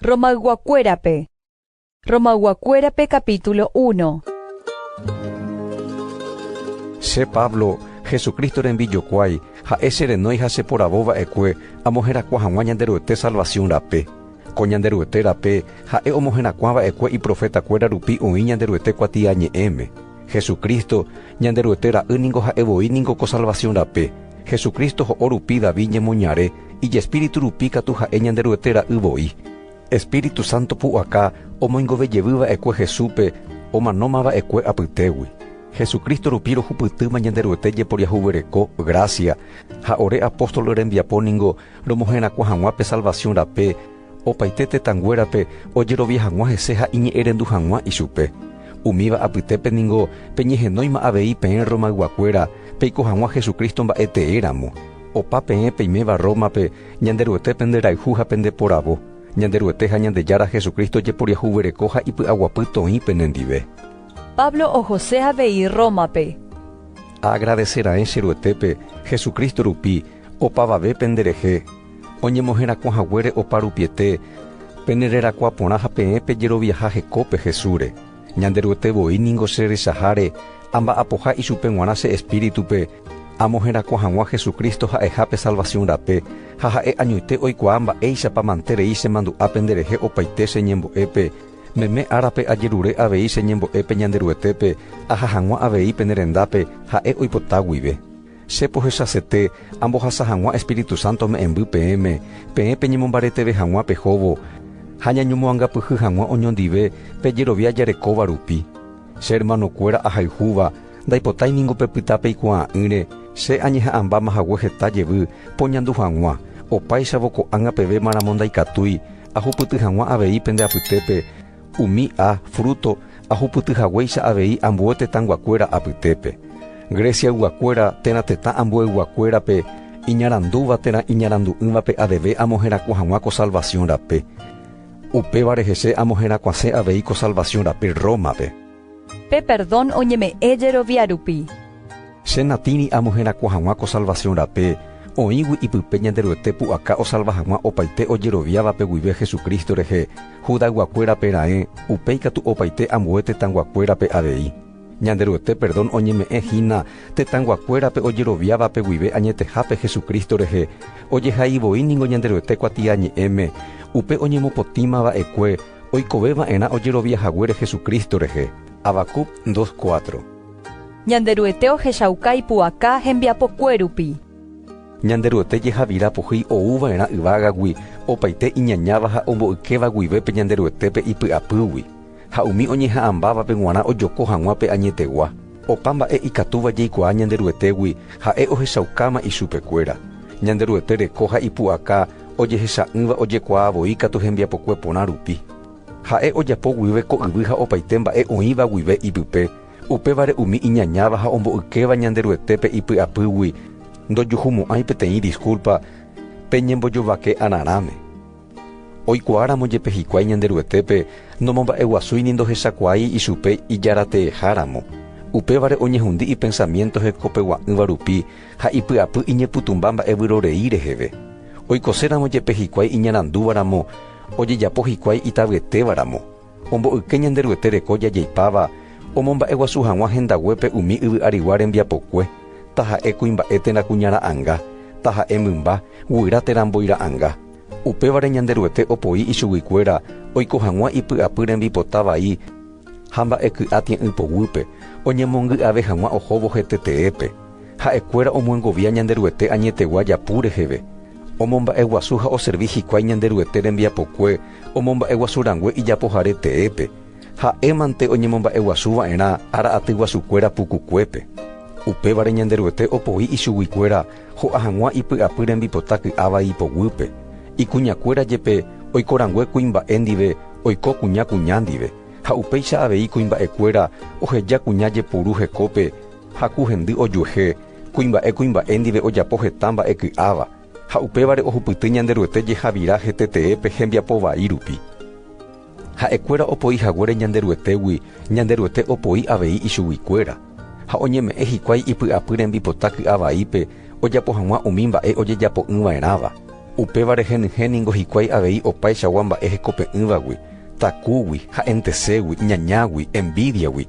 Romayguakuérape Romayguakuérape capítulo 1 Che Pablo, Jesucristo rembijokuái, ha'e che renói ha che poravo va'ekue amoherakuã hag̃ua Ñanderuete salvación rape. Ko Ñanderuete rape ha'e omoherakuã va'ekue iprofeta kuéra rupi oĩ Ñanderuete kuatiañe'ẽme. Jesucristo, Ñanderuete ra'y ningo ha'e voi ningo ko salvación rape. Jesucristo ho'o rupi David ñemoñare, ijespíritu rupi katu ha'e Ñanderuete ra'y voi. Espíritu Santo pu'aka omoingove jevy va'ekue Jesúspe, omanóma va'ekue apytégui. Jesucristo rupi rohupytýma Ñanderuete jeporiahuvereko gracia, ha ore apóstol rembiapo ningo Romoherakuã hag̃ua pe salvasiõ rape opaite tetãnguérape ojerovia hag̃ua hese ha iñe'ẽrendu hag̃ua ichupe. Umíva apytépe ningo peñehenóima avei peẽ Rromayguakuéra peiko hag̃ua Jesucristo mba'etee ramo. Opa peẽ peiméva Rrómape, Ñanderuete penderayhu ha pendeporavo. Ñanderuete ha Ñandejára Jesucristo jeporiahuvereko ha ipy'aguapy toĩ penendive. Pablo ohose avei Rrómape. Aagradese raẽ che Ruetépe, Jesucristo rupi, Opavave pende rehe, oñemoherakuã haguére oparupiete, pene rerakuã porã ha peẽ pejeroviaha hekópe Jesúsre. Ñanderuete voi ningo che rechaháre, amba'apoha ichupe g̃uarã che espíritupe, amoherakuã hag̃ua Jesucristo ha'eha pe salvación rape, ha ha'e añoite oikuaa mba'éichapa mante rei chemandu'a pende rehe opaite che ñembo'épe, meme árape ajerure avei che ñembo'épe Ñanderuetépe, aha hag̃ua avei pene rendápe, ha'e oipota guive. Che pohechasete, ambohasa hag̃ua Espíritu Santo ome'ẽmby peẽme, peẽ peñemombareteve hag̃ua pehóvo, ha ñañomoangapyhy hag̃ua oñondive pe jerovia jarekóva rupi. Che hermanokuéra ahayhúva, ndaipotái ningo pepyta peikuaa'ỹre, che añeha'ãmbáma hague heta jevy poñandu hag̃ua, opáichavo ko'ág̃a pevémaramo ndaikatúi ahupyty hag̃ua avei pende apytépe, Umi a, fruto, ahupyty haguéicha avei ambue tetãyguakuéra apytépe. Greciayguakuéra térã tetã ambueyguakuérape iñarandúva térã iñarandu'ỹvape aveve amoherakuã hag̃ua ko salvasiõ rape. Upévare hese amoherakuãse avei ko salvasiõ rape Rómape. Pe perdón oñeme'ẽ jerovia rupi. Che natĩri amo herakuã hag̃ua ko salvación rape, oĩgui ipype Ñanderuete pu'aka osalva hag̃ua opaite ojeroviávape guive Jesucristo rehe, Judayguakuérape raẽ, upéi katu opaite ambue tetãyguakuérape avei. Ñanderuete perdón oñeme'ẽ hína tetãyguakuérape ojeroviávape guive añetehápe Jesucristo rehe, ojehaivoi ningo Ñanderuete Kuatiañe'ẽme, upe oñemopotĩmava'ekue, Oikove va'erã ojerovia haguére Jesucristo rehe. Habacuc 2, 4. Ñanderuete ohechauka ipu'aka hembiapokue rupi. Ñanderuete jehavira pohýi ou va'erã yvágagui opaite iñañáva ha omboykéva guive pe Ñanderuetépe ipy'apýgui, ha umi oñeha'ãmbávape g̃uarã ojoko hag̃ua pe añetegua. Opa mba'e ikatúva jaikuaa Ñanderuetégui ha'e ohechaukáma ichupekuéra. Ñanderuete reko ha ipu'aka ojehecha'ỹva ojekuaa voi katu hembiapokue porã rupi. Ha'e ojapo guive ko yvy ha opaite mba'e oĩva guive ipype, upévare umi iñañáva ha omboykéva Ñanderuetépe ipy'apýgui ndojuhumo'ãi peteĩ diskúlpa pe ñembojovake'ararãme. Oikuaáramo jepe hikuái Ñanderuetépe nomomba'eguasúi ni ndohechakuaái ichupe ijarateeháramo, upévare oñehundi ipensamiénto hekopegua'ỹva rupi ha ipy'apy iñepytũmba mba'e vyrorei reheve. Oikoséramo jepe hikuái iñarandúvaramo, ojejapo hikuái itavyetévaramo. Omboyke Ñanderuete reko jajeipáva omomba'eguasu hag̃ua hendaguépe umi yvy arigua rembiapokue, taha'e kuimba'e térã kuña ra'anga, taha'e mymba, guyra térã mbói ra'anga. Upévare Ñanderuete opoi ichuguikuéra oiko hag̃ua ipy'apy rembipota vai ha mba'eky'a tie'ỹ poguýpe, oñemongy'ave hag̃ua ohóvo hete teépe. Ha'ekuéra omyengovia Ñanderuete añetegua japu reheve. Omomba'eguasu ha oservi hikuái Ñanderuete rembiapokue omomba'eguasu rangue ijapohare teépe, ha'émante oñemomba'eguasu va'erã ára atyguasukuéra pukukuépe. Upévare Ñanderuete opoi ichuguikuéra ho'a hag̃ua ipy'apy rembipota ky'a vai ipoguýpe, ikuñakuéra jepe oiko rangue kuimba'e ndive oiko kuña kuña ndive, ha upéicha avei kuimba'ekuéra oheja kuña jepuru hekópe ha ku hendy ojuehe, Kuimba'e kuimba'e ndive ojapo heta mba'e ky'áva, ha upévare ohupyty Ñanderuete jehavira hetetee pe hembiapo vai rupi. Ha'e kuéra opoi haguére Ñanderuetégui, Ñanderuete opoi avei ichugui kuéra, ha oñeme'ẽ hikuái ipy'apy rembipota ky'a vaípe ojapo hag̃ua umi mba'e ojejapo'ỹ va'erãva, upévare henyhẽ ningo hikuái avei opaichagua mba'e hekope'ỹvagui, takúgui, ha'enteségui, ñañágui, envídiagui,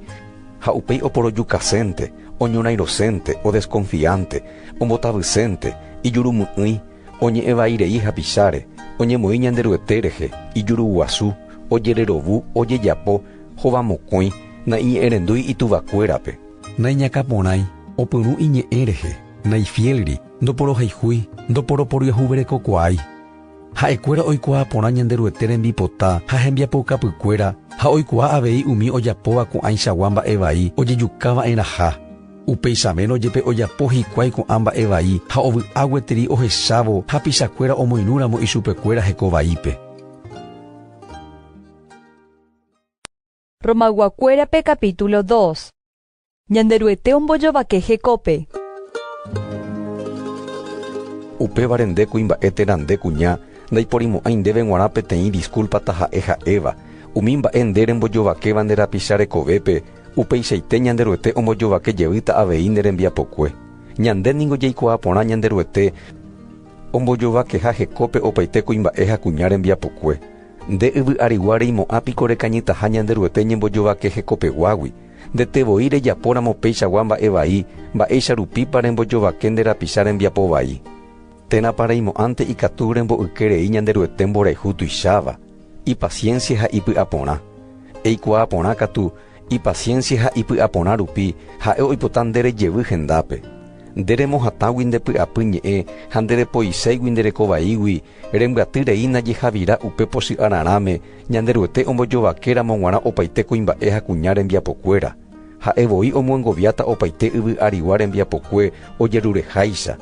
ha upéi oporojukasénte. oñorãirosénte, odeskonfiánte, ombotavysénte, ijurumy'ỹi, oñe'ẽ vai rei hapicháre, oñemoĩ Ñanderuete rehe, ijuruguasu, ojererovu, ojejapo, hova mokõi, naiñe'ẽrendúi ituvakuérape, naiñakãporãi, opyrũ iñe'ẽ rehe, naifiélri, ndoporohayhúi, ndoporoporyehuverekokuaái. Ha'ekuéra oikuaa porã Ñanderuete rembipota ha hembiapoukapykuéra ha oikuaa avei umi ojapóva ko'ãichagua mba'e vai ojejuka va'erãha. Upeichavérõ jepe ojapo hikuái ko'ã mba'e vai ha ovy'a gueteri ohechávo hapichakuéra omoirũramo ichupekuéra heko vaípe. Romayguakuérape capítulo dos. Ñanderuete ombojovake hekópe. Upévare nde kuimba'e térã nde kuña ndaiporimo'ãi ndéve g̃uarã peteĩ disculpa taha'e ha'éva. Umi mba'e nde rembojovakéva nde rapicha rekovépe, upeichaite Ñanderuete ombojovake jeýta avei nde rembiapokue. Ñande ningo jaikuaa porã Ñanderuete ombojovakeha hekópe opaite kuimba'e ha kuña rembiapokue. Nde yvy'arigua reimo'ã piko rekañytaha Ñanderuete ñembojovake hekopeguágui? Ndete voi rejapóramo péichagua mba'e vai, mba'éicha rupípa rembojovake nde rapicha rembiapo vai. Térãpa reimo'ãnte ikatu rembo'yke rei Ñanderuete mborayhu tuicháva, ipasiénsia ha ipy'aporã. Eikuaa porã katu, ipasiénsia ha ipy'aporã rupi ha'e oipota nde rejevy hendápe. Nde remohatãgui nde py'apy ñe'ẽ ha nde repoiséigui nde reko vaígui, Rembyaty rei najeha'vira upe pochy ararãme Ñanderuete ombojovake ramo g̃uarã opaite kuimba'e ha kuña rembiapokuéra. Ha'e voi omyengoviáta opaite yvy arigua rembiapokue ojerureháicha.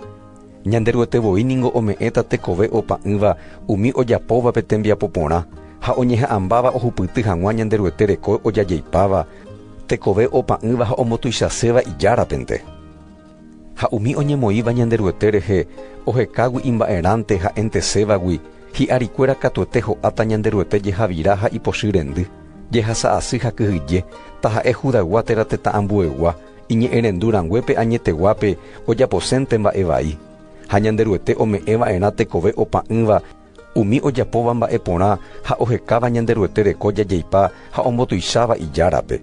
Ñanderuete voi ningo ome'ẽta tekove opa'ỹva umi ojapóvape tembiapo porã ha oñeha'ãmbáva ohupyty hag̃ua Ñanderuete reko ojajeipáva tekove opa'ỹva ha omotuichaséva ijárapente. Ha umi oñemoĩva Ñanderuete rehe ohekágui imba'erãnte ha entesévagui, hi'ári kuéra katuete ho'áta Ñanderuete jehavira ha ipochy rendy, jehasa asy ha kyhyje, taha'e Judaygua térã tetã ambuegua, iñe'ẽrendu ranguépe añeteguápe ojaposénte mba'e vai. Ha Ñanderuete ome'ẽ va'erã tekove opa'ỹva, Umi ojapóva mba'e porã ha ohekáva Ñanderuete reko jajeipa ha ombotuicháva Ijárape.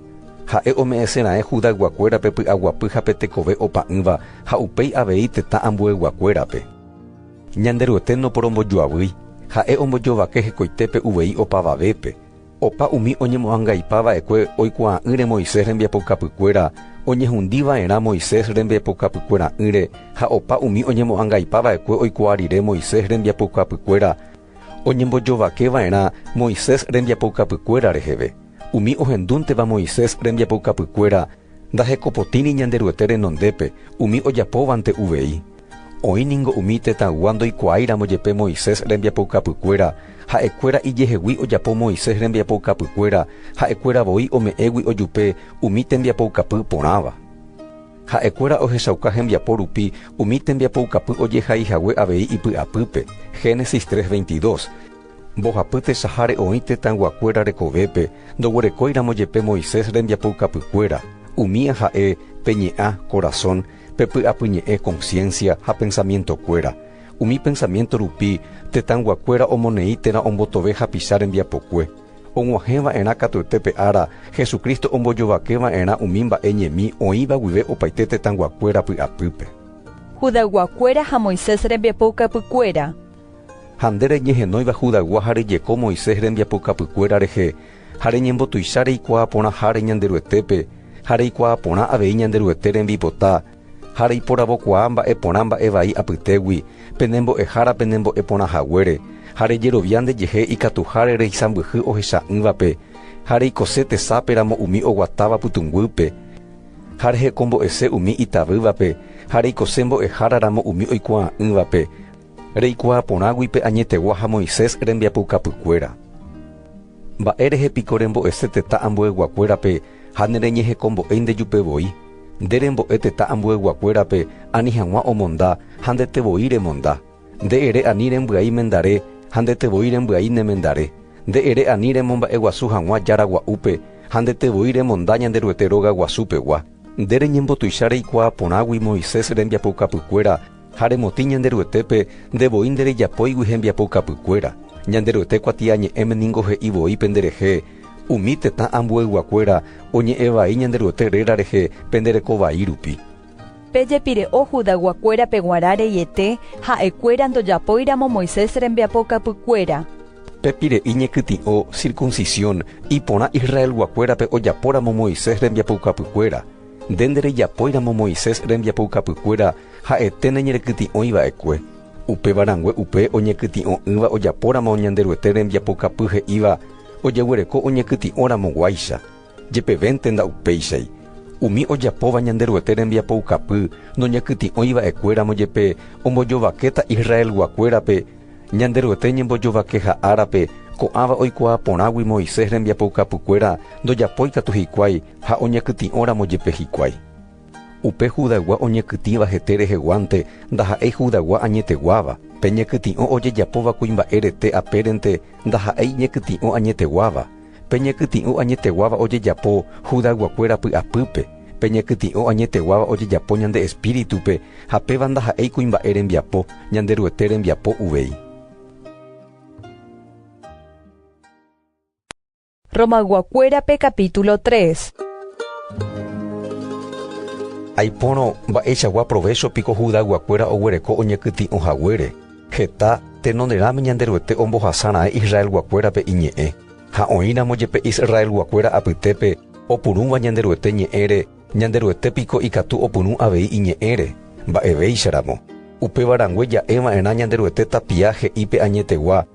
Ha'e ome'ẽse raẽ Judayguakuérape py'aguapy ha pe tekove opa'ỹva ha upéi avei tetã ambueyguakuérape. Ñanderuete noporombojoavýi, Ha'e ombojovake hekoitépe uvei opavavépe. Opa umi oñemo'angaipa va'ekue oikuaa'ỹre Moisés rembiapoukapykuéra, oñehundi va'erã Moisés rembiapoukapykuera'ỹre ha opa umi oñemo'angaipa va'ekue oikuaa rire Moisés rembiapoukapykuéra, oñembojovake va'erã Moisés rembiapoukapykuéra reheve, umi ohendúnteva Moisés rembiapoukapykuéra, Ndahekopotĩri Ñanderuete renondépe umi ojapóvante uvei. Oĩ ningo umi tetãygua ndoikuaáiramo jepe Moisés rembiapoukapykuéra, ha'ekuéra ijehegui ojapo Moisés rembiapoukapykuéra ha'ekuéra voi ome'ẽgui ojupe umi tembiapoukapy porãva. Ha'ekuéra ohechauka hembiapo rupi umi tembiapoukapy ojehaihague avei ipy'apýpe, Génesis 3, 22. Mbohapy tesaháre oĩ tetãyguakuéra rekovépe ndoguerekóiramo jepe Moisés rembiapoukapykuéra, umía ha'e pe ñe'ã, corazón, pe py'apyñe'ẽ, conciencia, ha pensamientokuéra. Umi pensamiento rupi tetãyguakuéra omoneĩ térã ombotove hapicha rembiapokue. Og̃uahẽ va'erã katuete pe ára Jesucristo ombojovake va'erã umi mba'e ñemi oĩva guive opaite tetãyguakuéra py'apýpe. Judayguakuéra ha Moisés rembiapoukapykuéra. Ha nde reñehenóiva Judagua ha rejeko Moisés rembiapokapykuéra rehe, ha reñembotuicha reikuaa porãháre Ñanderuetépe, ha reikuaa porã avei Ñanderuete rembipota, ha reiporavokuaa mba'e porã mba'e vai apytégui, pene mbo'ehára pene mbo'e porã haguére, ha rejerovia nde jehe ikatuháre reisãmbyhy ohecha'ỹvape, ha reikose tesape ramo umi oguatáva pytũnguýpe, ha rehekombo'ese umi itavývape, ha reikose mbo'ehára ramo umi oikuaa'ỹvape, Reikuaa porãgui pe añetegua ha Moisés rembiapoukapykuéra. Mba'e rehe piko rembo'ese tetã ambueyguakuérape ha nereñehekombo'éi nde jupe voi? Nde rembo'e tetã ambueyguakuérape ani hag̃ua omonda ha ndete voi remonda. Nde ere ani rembyai mendare ha ndete voi rembyai nemendare. Nde ere ani remomba'eguasu hag̃ua Jára Gua'úpe ha ndete voi remonda Ñanderuete Róga Guasu pegua. Nde reñembotuicha reikuaa porãgui Moisés rembiapoukapykuéra Ha remotĩ Ñanderuetépe nde voi nderejapóigui hembiapoukapykuéra, Ñanderuete kuatiañe'ẽme ningo he'i voi pende rehe, Umi tetã ambueyguakuéra oñe'ẽ vai Ñanderuete réra rehe pende reko vai rupi. Pejepire'o Judayguakuérape g̃uarã reiete ha'ekuéra ndojapóiramo Moisés rembiapoukapykuéra. Pepire'i ñekytĩ'o circuncisión iporã Israelguakuérape ojapóramo Moisés rembiapoukapykuéra. Nde nderejapóiramo Moisés rembiapoukapykuéra ha'ete neñerekytĩ'õi va'ekue, upéva rangue upe oñekytĩ'õ'ỹva ojapóramo Ñanderuete rembiapoukapy he'íva ojeguereko oñekytĩ'õ ramoguáicha, jepevénte nda'upéichai. Umi ojapóva Ñanderuete rembiapoukapy noñekytĩ'õi va'ekuéramo jepe ombojovakéta Israelguakuérape Ñanderuete ñembojovakeha árape ko'ãva oikuaa porãgui Moisés rembiapoukapykuéra ndojapói katu hikuái Ha oñakytĩ'õramo jepe hikuái, upe Judaygua oñakytĩva hete reheguánte ndaha'éi Judaygua añeteguáva, pe ñakytĩ'õ ojejapóva kuimba'e rete apérente ndaha'éi ñakytĩ'õ añeteguáva, pe ñakytĩ'ũ añeteguáva ojejapo Judayguakuéra py'apýpe, pe ñakytĩ'õ añeteguáva ojejapo ñande espíritupe, ha péva ndaha'éi kuimba'e rembiapo, Ñanderuete rembiapo uvei. Romayguakuérape capítulo 3. Aipórõ mba'eichagua provécho piko Judayguakuéra oguereko oñekytĩ'o haguére, heta tenonderãme Ñanderuete ombohasa raẽ Israelguakuérape iñe'ẽ, ha oĩramo jepe Israelguakuéra apytépe opurũva Ñanderuete ñe'ẽre, Ñanderuete piko ikatu opyrũ avei iñe'ẽre? Mba'evéicharamo. Upéva rangue ja'e va'erã Ñanderuete tapia he'i pe añetegua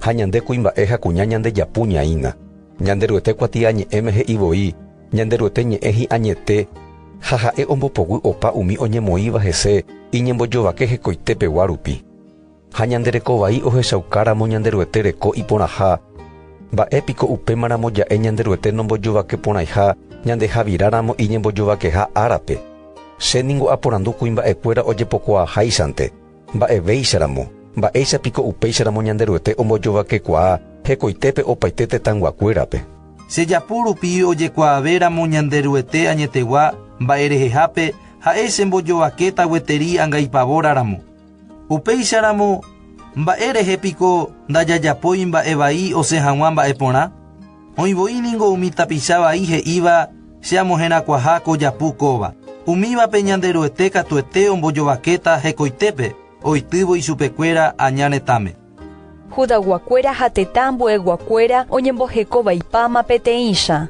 ha ñande kuimba'e ha kuña ñandejapu ñaína. Ñanderuete kuatiañe'ẽme he'i voi, Ñanderuete ñe'ẽ hi'añete ha ha'e ombopoguy opa umi oñemoĩva hese iñembojovake hekoitépegua rupi. Ha ñande reko vai ohechaukáramo Ñanderuete reko iporãha, mba'e piko upémaramo ja'e Ñanderuete nombojovake porãiha ñande javiráramo iñembojovakeha árape? Che ningo aporandu kuimba'ekuéra ojepokuaaháichante, mba'evéicharamo, mba'éicha piko upéicharamo Ñanderuete ombojovakekuaa hekoitépe opaite tetãyguakuérape? Chejapo rupi ojekuaavéramo Ñanderuete añetegua mba'erehehápe, ha'e chembojovakéta gueteri angaipavóraramo. Upéicharamo, mba'e rehe piko ndajajapói mba'e vai osẽ hag̃ua mba'e porã? Oĩ voi ningo umi tapicha vai he'íva che amoherakuaha ko japu kóva, umívape Ñanderuete katuete ombojovakéta hekoitépe oitývo ichupekuéra aña retãme. Judaguakuéra ha tetã ambuéguakuéra oñemboheko vaipáma peteĩcha.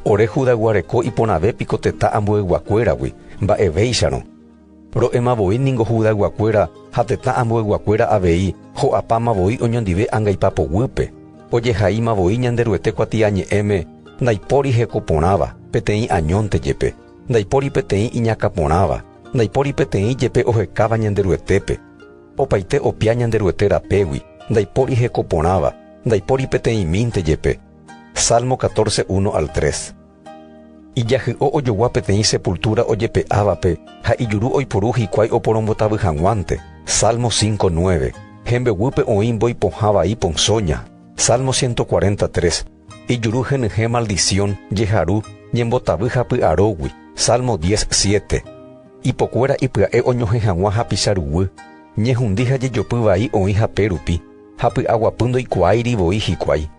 Ore Judaguareko iporãve piko tetã ambuéguakuéragui, mba'evéicharõ, Ro'éma voi ningo Judayguakuéra ha tetã ambueyguakuéra avei ho'apáma voi oñondive angaipa poguýpe, ojehaíma voi Ñanderuete kuatiañe'ẽme, ndaipóri heko porãva, peteĩ añónte jepe, ndaipóri peteĩ iñakã porãva, ndaipóri peteĩ jepe ohekáva Ñanderuetépe, opaite opia Ñanderuete rapégui, ndaipóri heko porãva, ndaipóri peteĩmínte jepe. Salmo catorce, uno al tres. Ijahy'o ojogua peteĩ sepultúra ojepe'ávape ha ijuru oiporu hikuái oporombotavy hag̃uánte. Salmo cinco nueve. Hembeguýpe oĩ mbói pohã vai ponzóña. Salmo ciento cuarenta tres. Ijuru henyhẽ maldición, jeharu, ñembotavy ha py'arógui. Salmo diez siete. Ipokuéra ipya'e oñohẽ hag̃ua hapicha ruguy. Ñehundi ha jejopy vai oĩ hapérupi, ha py'aguapy ndoikuaáiri voi hikuái.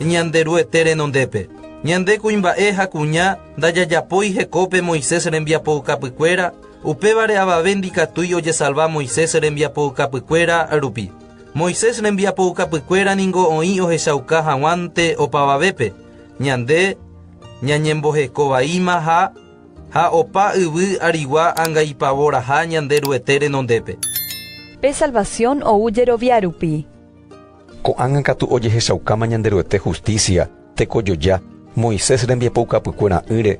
Ñanderuete renondépe, ñande kuimba'e ha kuña ndajajapói hekópe Moisés rembiapoukapykuéra, upévare avave ndikatúi ojesalva Moisés rembiapoukapykuéra rupi. Moisés rembiapoukapykuéra ningo oĩ ohechauka haguãnte opavavépe, ñande ñañemboheko vaíma ha ha opa yvy arigua angaipavoraha Ñanderuete renondépe. Pe salvasiõ ou jerovia rupi. Ko'ág̃a katu ojehechaukáma Ñanderuete hustísia, tekojoja, Moisés rembiapoukapykuera'ỹre,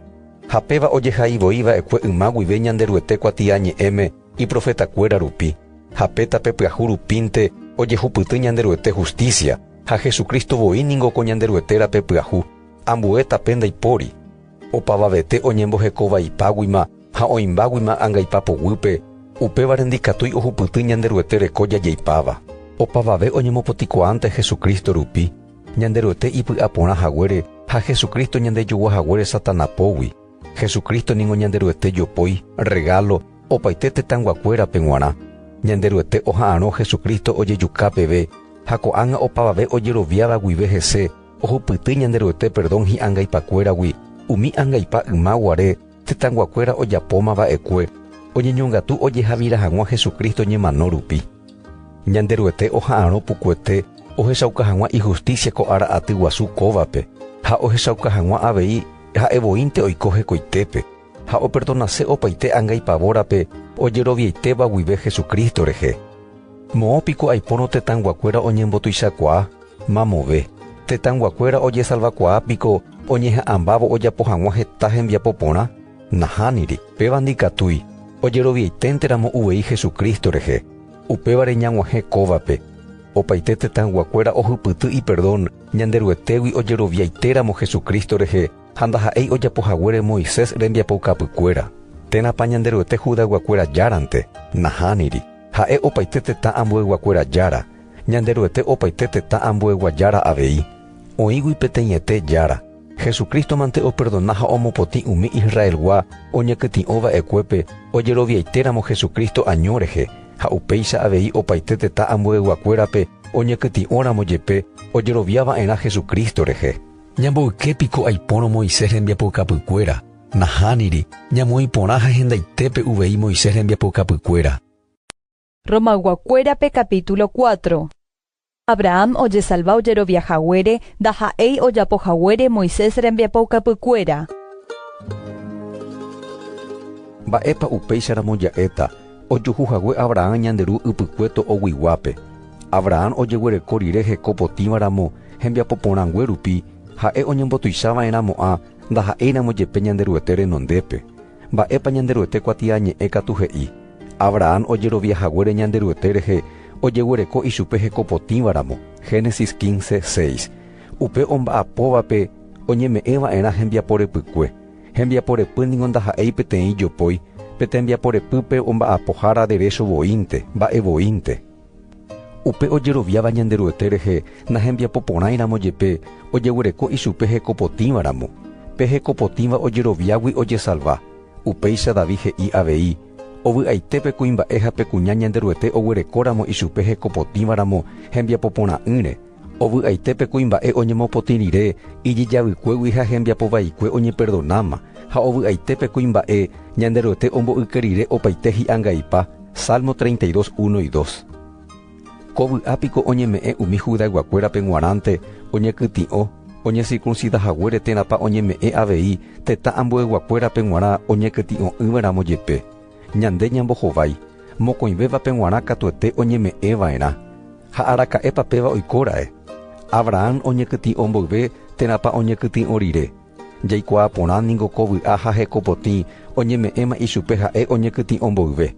ha péva ojehai voi va'ekue yma guive Ñanderuete kuatiañe'ẽme iprofetakuéra rupi, ha pe tape pyahu rupínte ojehupyty Ñanderuete hustísia, ha Jesucristo voi ningo ko Ñanderuete rape pyahu, ambue tape ndaipóri. Opavavete oñembohekovaipáguima Ha oĩmbáguima angaipa poguýpe, upévare ndikatúi ohupyty Ñanderuete reko jajeipáva. Opavave oñemopotikuaánte Jesucristo rupi, Ñanderuete ipy'aporã haguére ha Jesucristo ñandejogua haguére Satana pógui, Jesucristo ningo Ñanderuete jopói, regalo, opaite tetãnguakuérape g̃uarã. Ñanderuete oha'arõ Jesucristo ojejuka peve ha ko'ág̃a opavave ojeroviáva guive hese ohupyty Ñanderuete perdón hi'angaipakuéragui umi angaipa yma guare Tetãnguakuéra ojapóma va'ekue oñeñongatu ojejavira hag̃ua Jesucristo ñemano rupi. Ñanderuete oha'arõ pukuete ohechauka hag̃ua ijusticia ko ára aty guasu kóvape ha ohechauka hag̃ua avei ha'e voínte oiko hekoitépe ha operdonase opaite anga ipavórape ojeroviaitéva guive Jesucristo rehe. Moõ piko aipórõ tetãnguakuéra oñembotuichakuaa? Mamove, tetãyguakuéra ojesalvakuaa piko oñeha'ãmbávo ojapo hag̃ua heta hembiapo porã? Nahániri. Péva ndikatúi, ojeroviaiténteramo uvei Jesucristo rehe, upévare ñag̃uahẽ kóvape. Opaite tetãyguakuéra ohypyty iperdón Ñanderuetégui ojeroviaitéramo Jesucristo rehe ha ndaha'éi ojapo haguére Moisés rembiapoukapykuéra. Térãpa Ñanderuete Judayguakuéra járante? Nahániri. Ha'e opaite tetã ambueyguakuéra jára. Ñanderuete opaite tetã ambue guajára avei, oĩgui peteĩete Jára. Jesucristo-mante operdona ha omopotĩ umi Israelgua oñekytĩ'o va'ekuépe ojeroviaitéramo Jesucristo año rehe, ha upéicha avei opaite tetã ambueguakuérape oñekytĩ'óramo jepe ojerovia va'erã Jesucristo rehe. Ñamboyke piko aipórõ Moisés rembiapoukapykuéra? Nahániri, ñamoĩ porã ha hendaitépe uvei Moisés rembiapoukapykuéra. Romayguakuérape capítulo cuatro. Abraham ojesalva ojerovia haguére ndaha'éi ojapo haguére Moisés rembiapoukapykuéra. Mba'épa upéicharamo ja'éta ojuhu hague Abraham ñande Ru ypykue to'oguiguápe? Abraham ojeguereko rire heko potĩva ramo hembiapo porãngue rupi, ha'e oñembotuicha va'erã mo'ã ndaha'éiramo jepe Ñanderuete renondépe. Mba'épa Ñanderuete kuatiañe'ẽ katu he'i, Abrahán ojerovia haguére Ñanderuete rehe ojeguereko ichupe hekopotĩva ramo, Génesis 15, 6. Upe omba'apóvape oñeme'ẽ va'erã hembiapo repykue. Hembiapo repy ningo ndaha'éi peteĩ jopói, pe tembiapo repýpe omba'apohára derécho voínte, mba'e voínte. Upe ojeroviáva Ñanderuete rehe nahembiapo porãiramo jepe ojeguereko ichupe hekopotĩva ramo. Pe hekopotĩva ojeroviágui ojesalva. Upéicha David he'i avei, Ovy'aite pe kuimba'e ha pe kuña Ñanderuete oguerekóramo ichupe hekopotĩva ramo hembiapo porã'ỹre, Ovy'aite pe kuimba'e oñemopotĩ rire ijejavykuégui ha hembiapo vaikue oñeperdonáma, ha ovy'aite pe kuimba'e Ñanderuete ombo'yke rire opaite hi'angaipa, Salmo 32, 1, 2. Ko vy'a piko oñeme'ẽ umi Judayguakuérape g̃uarãnte oñekytĩ'o oñesirkunsida haguére térãpa oñeme'ẽ avei tetã ambueyguakuérape g̃uarã oñekytĩ'o'ỹva'erãmo jepe. Ñande ñambohovái, mokõivévape g̃uarã katuete oñeme'ẽva'erã. Ha araka'épa péva oikóra'e? Abrahán oñekytĩ'o mboyve térãpa oñekytĩ'o rire? Jaikuaa porã ningo ko vy'a ha hekopotĩ oñeme'ẽma ichupe ha'e oñekytĩ'o mboyve.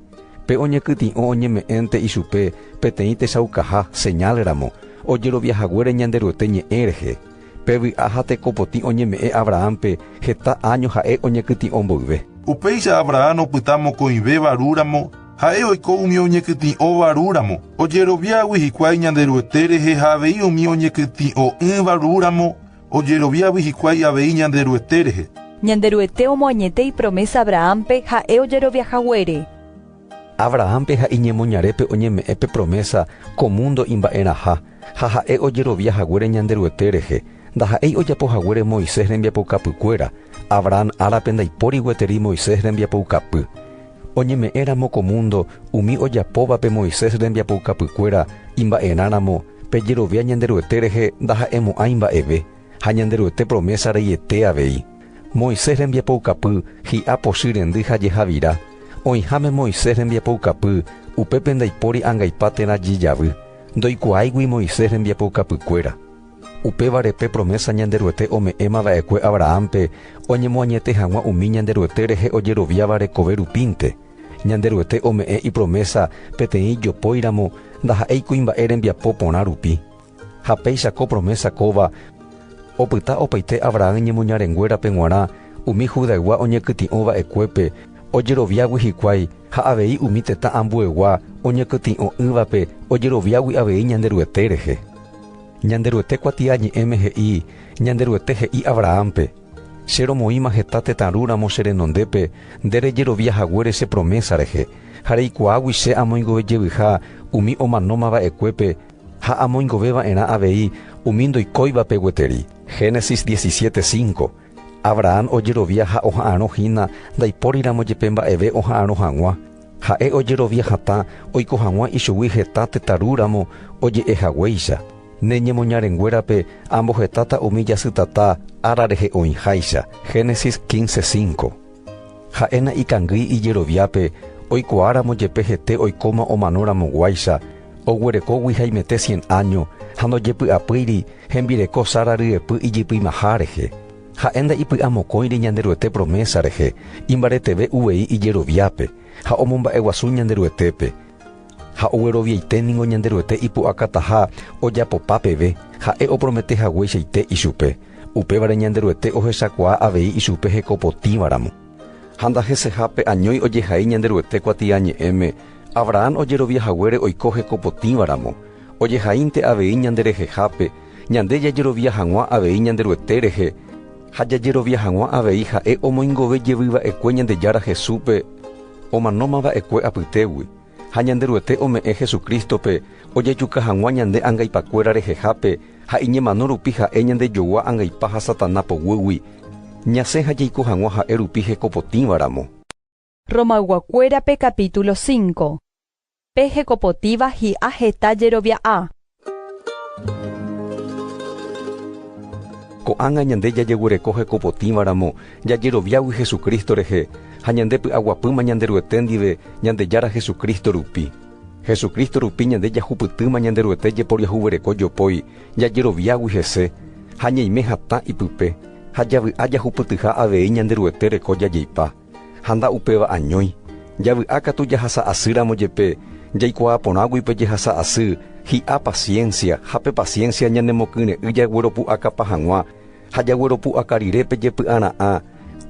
Pe oñekytĩ'o oñeme'ẽnte ichupe peteĩ techaukaha, señal ramo, ojerovia haguére Ñanderuete ñe'ẽ rehe. Pe vy'a ha tekopotĩ oñeme'ẽ Abrahánpe heta áño ha'e oñekytĩ'o mboyve. Upéicha Abrahán opyta mokõivéva ru ramo, Ha'e oiko umi oñekytĩ'õva ru ramo. Ojeroviágui hikuái Ñanderuete rehe ha avei umi oñekytĩ'õ'ỹva ru ramo ojeroviágui hikuái avei Ñanderuete rehe. Ñanderuete omoañete ipromésa Abrahánpe ha'e ojerovia haguére. Abrahánpe ha iñemoñarépe oñeme'ẽ pe promésa ko múndo imba'eraha ha ha'e ojerovia haguére Ñanderuete rehe. Ndaha'éi ojapo haguére Moisés rembiapoukapykuéra. Abrahán árape ndaipóri gueteri Moisés rembiapoukapy. Oñeme'ẽramo ko múndo umi ojapóvape Moisés rembiapoukapykuéra imba'erãramo, pe jerovia Ñanderuete rehe ndaha'emo'ãi mba'eve, ha Ñanderuete promésa reiete avei. Moisés rembiapoukapy hi'a pochy rendy ha jehavira. Oĩháme Moisés rembiapoukapy, upépe ndaipóri angaipa térã jejavy. Ndoikuaáigui Moisés rembiapoukapykuéra. Upévare pe promésa Ñanderuete ome'ẽma va'ekue Abrahánpe oñemoañete hag̃ua umi Ñanderuete rehe ojeroviáva rekove rupínte. Ñanderuete ome'ẽ ipromésa peteĩ ijopóiramo ndaha'éi kuimba'e rembiapo porã rupi. Ha péicha ko promésa kóva opyta opaite Abrahán ñemoñarenguérape g̃uarã umi Judaygua oñekytĩ'o va'ekuépe ojeroviágui hikuái ha avei umi tetã ambuegua oñekytĩ'o'ỹvape ojeroviágui avei Ñanderuete rehe. Ñanderuete kuatiañe'ẽme he'i, Ñanderuete he'i Abrahánpe, Che romoĩma heta tetãrúramo che renondépe nde rejerovia haguére che promésa rehe, ha reikuaágui che amoingove jevyha umi omanóma va'ekuépe ha amoingove va'erã avei umi ndoikóivape gueteri. Génesis diecisiete cinco. Abrahán ojerovia ha oha'arõ hína ndaipóriramo jepe mba'eve oha'arõ hag̃ua, Ha'e ojerovia hatã oiko hag̃ua ichugui heta tetãru ramo oje'e haguéicha, Ne ñemoñarenguérape ambohetáta umi jasytata ára rehe oĩháicha. Génesis quince cinco. Ha'éna ikangýi ijeroviápe oikuaáramo jepe hete oikóma omano ramoguáicha, oguerekógui haimete cien áño ha ndojepy'apýiri hembireko Sara ryepy ijypymaha rehe. Ha'e nda'ipy'amokõire Ñanderuete promésa rehe, imbareteve uvei ijeroviápe, ha omomba'eguasu Ñanderuetépe. Ha ogueroviaite ningo Ñanderuete ipu'akataha ojapopa peve, Ha'e opromete hagueichaite ichupe. Upévare Ñanderuete ohechakuaa avei ichupe heko potĩvaramo. Ha ndaheseha pe añói ojehai Ñanderuete kuatiañe'ẽme, Abrahán ojerovia haguére oiko heko potĩvaramo, ojehaínte avei ñanderehehápe, Ñande jajerovia hag̃ua avei Ñanderuete rehe ha jajerovia hag̃ua avei ha'e omoingove jevy va'ekue Ñandejára Jesúspe omanóma va'ekue apytégui ha Ñanderuete ome'ẽ Jesucrístope ojejuka hag̃ua ñande angaipakuéra rehehápe ha iñemano rupi ha'e ñandejogua angaipa ha Satana poguýgui ñasẽ ha jaiko hag̃ua ha'e rupi hekopotĩva ramo. Romayguakuérape capítulo 5 Pe hekopotíva hi'a heta jerovia'a. Ko'ág̃a ñande jajeguereko hekopotĩvaramo jajeroviágui Jesucristo rehe ha ñande py'aguapýma Ñanderuete ndive Ñandejára Jesucristo rupi. Jesucristo rupi ñande jahupytýma Ñanderuete jeporiahuvereko jopói jajeroviágui hese ha ñaime hatã ipype ha javy'a jahupytyha avei Ñanderuete reko jajeipa. Ha nda upéva añói, javy'a katu jahasa asy ramo jepe, jaikuaa porãgui pe jehasa asy, hi'a paciencia, ha pe paciencia ñanemokyre'ỹ jagueropu'akapa hag̃ua, ha jagueropu'aka rire pe jepy'ara'ã,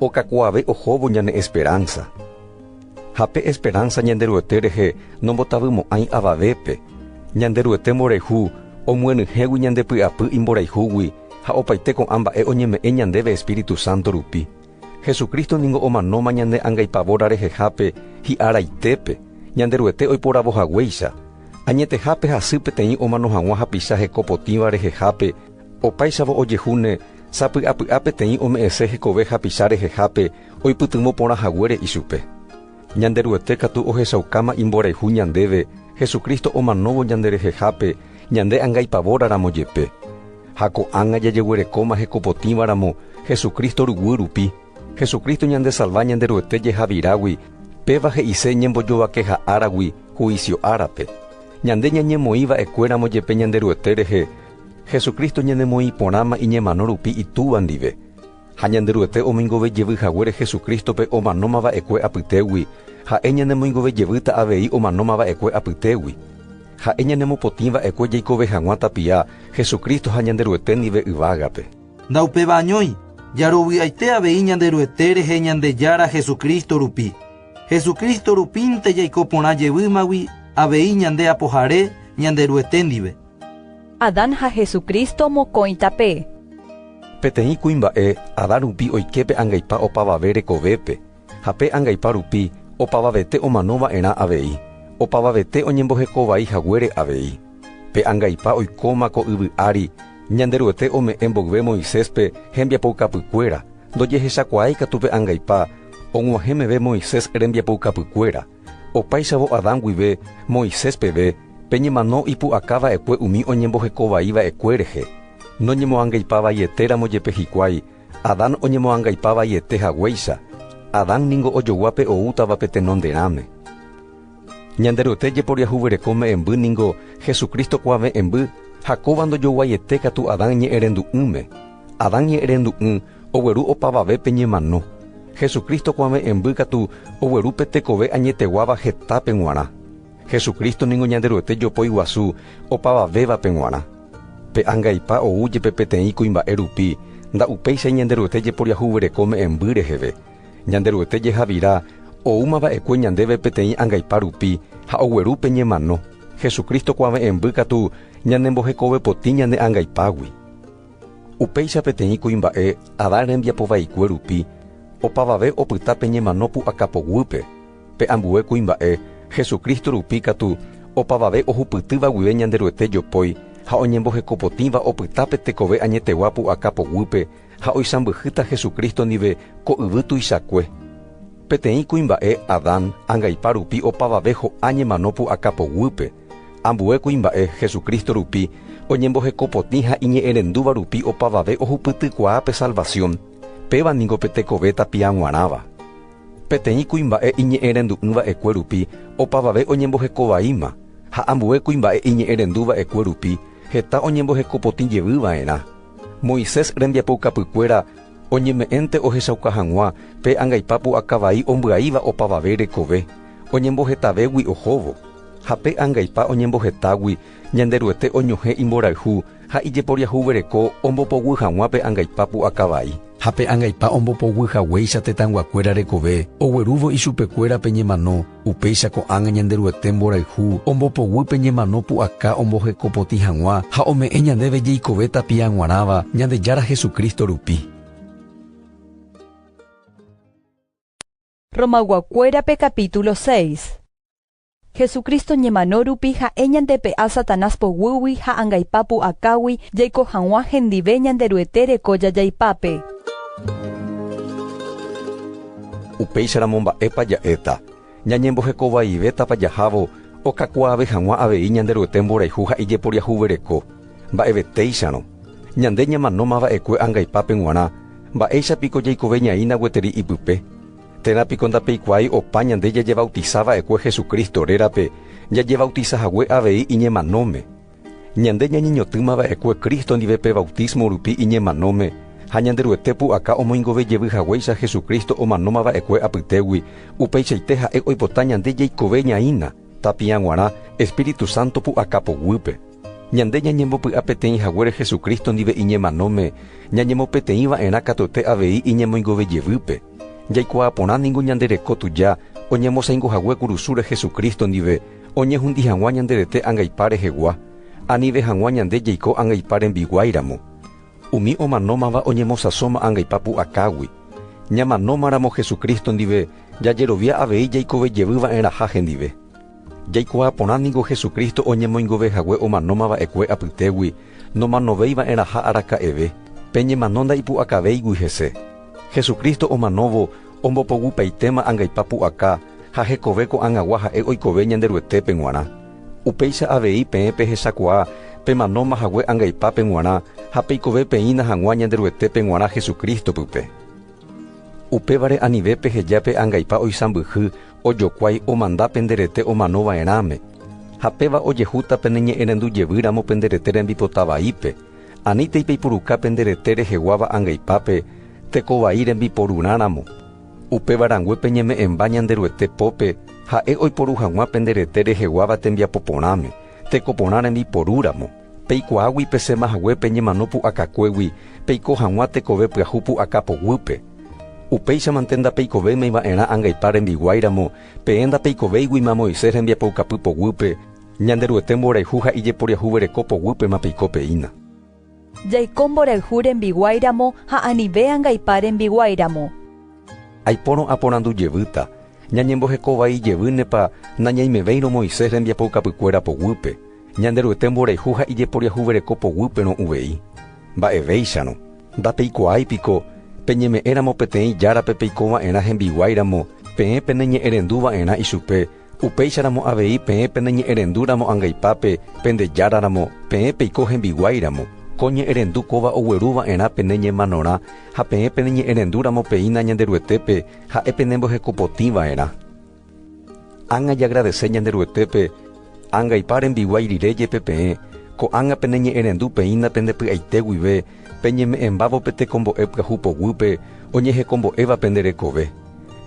okakuaave ohóvo ñane esperanza. Ha pe esperanza Ñanderuete rehe nombotavymo'ãi avavépe, Ñanderuete mborayhu omyenyhẽgui ñande py'apy imborayhúgui ha opaite ko'ã mba'e oñeme'ẽ ñandéve Espíritu Santo rupi. Jesucristo ningo omanóma ñane angaipavóra rehehápe hi'a raitépe, Ñanderuete oiporavo haguéicha, añetehápe hasy peteĩ omano hag̃ua hapicha heko potĩva rehehápe, opáichavo ojehúne sapy'apy'a peteĩ ome'ẽse hekove hapicha rehehápe oipytyvõ porã haguére ichupe. Ñanderuete katu ohechaukáma imborayhu ñandéve Jesucristo omanóvo ñanderehehápe ñande anga ipavóraramo jepe. Ha ko'ág̃a jajeguerekóma hekopotĩvaramo Jesucristo ruguy rupi, Jesucristo ñandesalva Ñanderuete jehavirágui péva he'ise ñembojovakeha áragui huísio árape. Ñande ñañemoĩ va'ekuéramo jepe Ñanderuete rehe, Jesucristo ñanemoĩporãma iñemano rupi Itúva ndive. Ha Ñanderuete omoingove jevy haguére Jesucrístope omanóma va'ekue apytégui, ha'e ñanemoingove jevýta avei omanóma va'ekue apytégui. Ha'e ñanemopotĩ va'ekue jaikove hag̃ua tapia Jesucristo ha Ñanderuete ndive yvágape. Ndaupéva añói, jaroviaite avei Ñanderuete rehe Ñandejára Jesucristo rupi. Jesucristo rupínte jaiko porã jevýmagui avei ñande Apohare Ñanderuete ndive. Adán ha Jesucristo mokõi tape. Peteĩ kuimba'e Adán rupi oike pe angaipa opavave rekovépe, ha pe angaipa rupi opavavete omano va'erã avei, opavavete oñembohekovai haguére avei. Pe angaipa oikóma ko yvy ári, Ñanderuete ome'ẽ mboyve Moiséspe hembiapoukapykuéra, ndojehechakuaái katu pe angaipa og̃uahẽ meve Moisés rembiapoukapykuéra, Opáichavo Adán guive, Moisés peve, peñemano ipu'aka va'ekue umi oñemboheko vai va'ekue rehe. Noñemoangaipa vaiete ramo jepe hikuái, Adán oñemoangaipa vaiete haguéicha, Adán ningo ojogua pe oútava pe tenonderãme. Ñanderuete jeporiahuvereko me'ẽmby ningo Jesucristo kuave'ẽmby ha kóva ndojoguaiete katu Adán ñe'ẽrendu'ỹme. Adán ñe'ẽrendu'ỹ ogueru opavave pe ñemano. Jesucristo kuave'ẽmby katu ogueru pe tekove añeteguáva hetápe g̃uarã. Jesucristo ningo Ñanderuete jopói guasu opavavévape g̃uarã. Pe angaipa ou jepe peteĩ kuimba'e rupi, nda upéichai Ñanderuete jeporiahuvereko me'ẽmby reheve. Ñanderuete jehavira oúma va'ekue ñandéve peteĩ angaipa rupi ha ogueru pe ñemano, Jesucristo kuave'ẽmby katu ñanembohekovepotĩ ñane angaipágui. Upéicha peteĩ kuimba'e Adán rembiapo vaikue rupi opavave opyta pe ñemano pu'aka poguýpe, pe ambue kuimba'e Jesucristo rupi katu opavave ohupytýva guive Ñanderuete jopói ha oñembohekopotĩva opyta pe tekove añetegua pu'aka poguýpe ha oisãmbyhýta Jesucristo ndive ko yvy tuichakue. Peteĩ kuimba'e Adán angaipa rupi opavave ho'a ñemano pu'aka poguýpe, Ambue kuimba'e Jesucristo rupi oñembohekopotĩ ha iñe'ẽrendúva rupi opavave ohupytykuaa pe salvación, péva ningo pe tekove tapiaguarãva. Peteĩ kuimba'e iñe'ẽrendu'ỹ va'ekue rupi opavave oñemboheko vaíma, ha ambue kuimba'e iñe'ẽrendu va'ekue rupi heta oñembohekopotĩ jevy va'erã. Moisés rembiapoukapykuéra oñeme'ẽnte ohechauka hag̃ua pe angaipa pu'aka vai ombyaíva opavave rekove, oñembohetavégui ohóvo, ha pe angaipa oñembohetágui Ñanderuete oñohẽ imborayhu ha ijeporiahuvereko ombopoguy hag̃ua pe angaipa pu'aka vai. Ha pe angaipa ombopoguy haguéicha tetãyguakuéra rekove oguerúvo ichupekuéra pe ñemano, upéicha ko'ág̃a Ñanderuete mborayhu ombopoguy pe ñemano pu'aka ombohekopotĩ hag̃ua ha ome'ẽ ñandéve jeikove tapia g̃uarãva Ñandejára Jesucristo rupi. Romayguakuérape capítulo seis. Jesucristo ñemano rupi ha'e ñandepe'a Satanás poguýgui ha angaipa pu'akágui jaiko hag̃ua hendive Ñanderuete reko jajaipápe. Upéicharamo mba'épa ja'éta? Ñañembohekovaivétapa jahávo okakuaave hag̃ua avei Ñanderuete mborayhu ha ijeporiahuvereko? Mba'evetéicharõ, ñande ñamanóma va'ekue angaipápe g̃uarã, mba'éicha piko jaikoveñaína gueteri ipype? Térã piko ndapeikuaái opa ñande jajevautisa va'ekue Jesucristo rérape jajevautisa hague avei iñemanóme? Ñande ñañeñotỹma va'ekue Cristo ndive pe bautismo rupi iñemanóme ha Ñanderuete pu'aka omoingove jevy haguéicha Jesucristo omanóma va'ekue apytégui, upeichaite Ha'e oipota ñande jaikoveñaína. Tapia g̃uarã Espíritu Santo pu'aka poguýpe, ñande ñañembopy'a peteĩ haguére Jesucristo ndive iñemanóme, ñañemopeteĩ va'erã katuete avei iñemoingove jevýpe. Jaikuaa porã ningo ñande reko tuja oñemosãingo hague kurusúre Jesucristo ndive, oñehundi hag̃ua ñande rete angaipa rehegua, anive hag̃ua ñande jaiko angaipa rembiguái ramo. Umi omanómava oñemosãsóma angaipa pu'akágui. Ñamanómaramo Jesucristo ndive, Jajerovia avei jaikove jevy va'erãha hendive. Jaikuaa porã ningo Jesucristo oñemoingove hague omanóma va'ekue apytégui nomanovéi va'erãha araka'eve, pe ñemano ndaipu'akavéigui hese. Jesucristo omanóvo ombopoguipaitéma angaipa pu'aka ha hekove ko'ag̃agua ha'e oikove Ñanderuetépe g̃uarã. Upéicha avei peẽ pehechakuaa pemanóma hague angaipápe g̃uarã ha peikove peĩna hag̃ua Ñanderuetépe g̃uarã Jesucristo-pype. Upévare anive peheja pe angaipa oisãmbyhy ojokuái omanda pende rete omano va'erãme, ha péva ojehúta pene ñe'ẽrendu jevy ramo pende rete rembipota vaípe, anítei peipuruka pende rete reheguáva angaipápe teko vai rembiporurã ramo. Upéva rangue peñeme'ẽmba Ñanderuete pópe Ha'e oiporu hag̃ua pende rete reheguáva tembiapo porãme, teko porã rembiporu ramo. Peikuaágui pesẽma hague pe ñemano pu'akakuégui peiko hag̃ua tekove pyahu pu'aka poguýpe. Upéichamante ndapeikovéimai va'erã angaipa rembiguái ramo, peẽ ndapeikovéiguima Moisés rembiapoukapy poguýpe, Ñanderuete mborayhu ha ijeporiahuvereko poguýpema peiko peína. Jaiko mborayhu rembiguái ramo ha anive angaipa rembiguái ramo. Aipórõ aporandu jevýta, Ñañemboheko vai jevýnepa nañaimevéirõ Moisés rembiapoukapykuéra poguýpe? Ñanderuete mborayhu ha ijeporiahuvereko poguýperõ uvei. Mba'evéicharõ, ndapeikuaái piko, peñeme'ẽramo peteĩ járape peiko va'erã hembiguáiramo, peẽ peneñe'ẽrendu va'erã ichupe, upéicharamo avei peẽ peneñe'ẽrendúramo angaipápe pende járaramo, peẽ peiko hembiguáiramo, ko ñe'ẽrendu kóva ogueru va'erã pene ñemanorã, ha peẽ peneñe'ẽrendúramo peína Ñanderuetépe, ha'e penembohekopotĩ va'erã. Ág̃a jagradese Ñanderuetépe ág̃aipa rembiguái rire jepe peẽ, ko'ág̃a peneñe'ẽrendu peĩna pende py'aite guive peñeme'ẽmbávo pe tekombo'e pyahu poguýpe oñehekombo'éva pende rekove.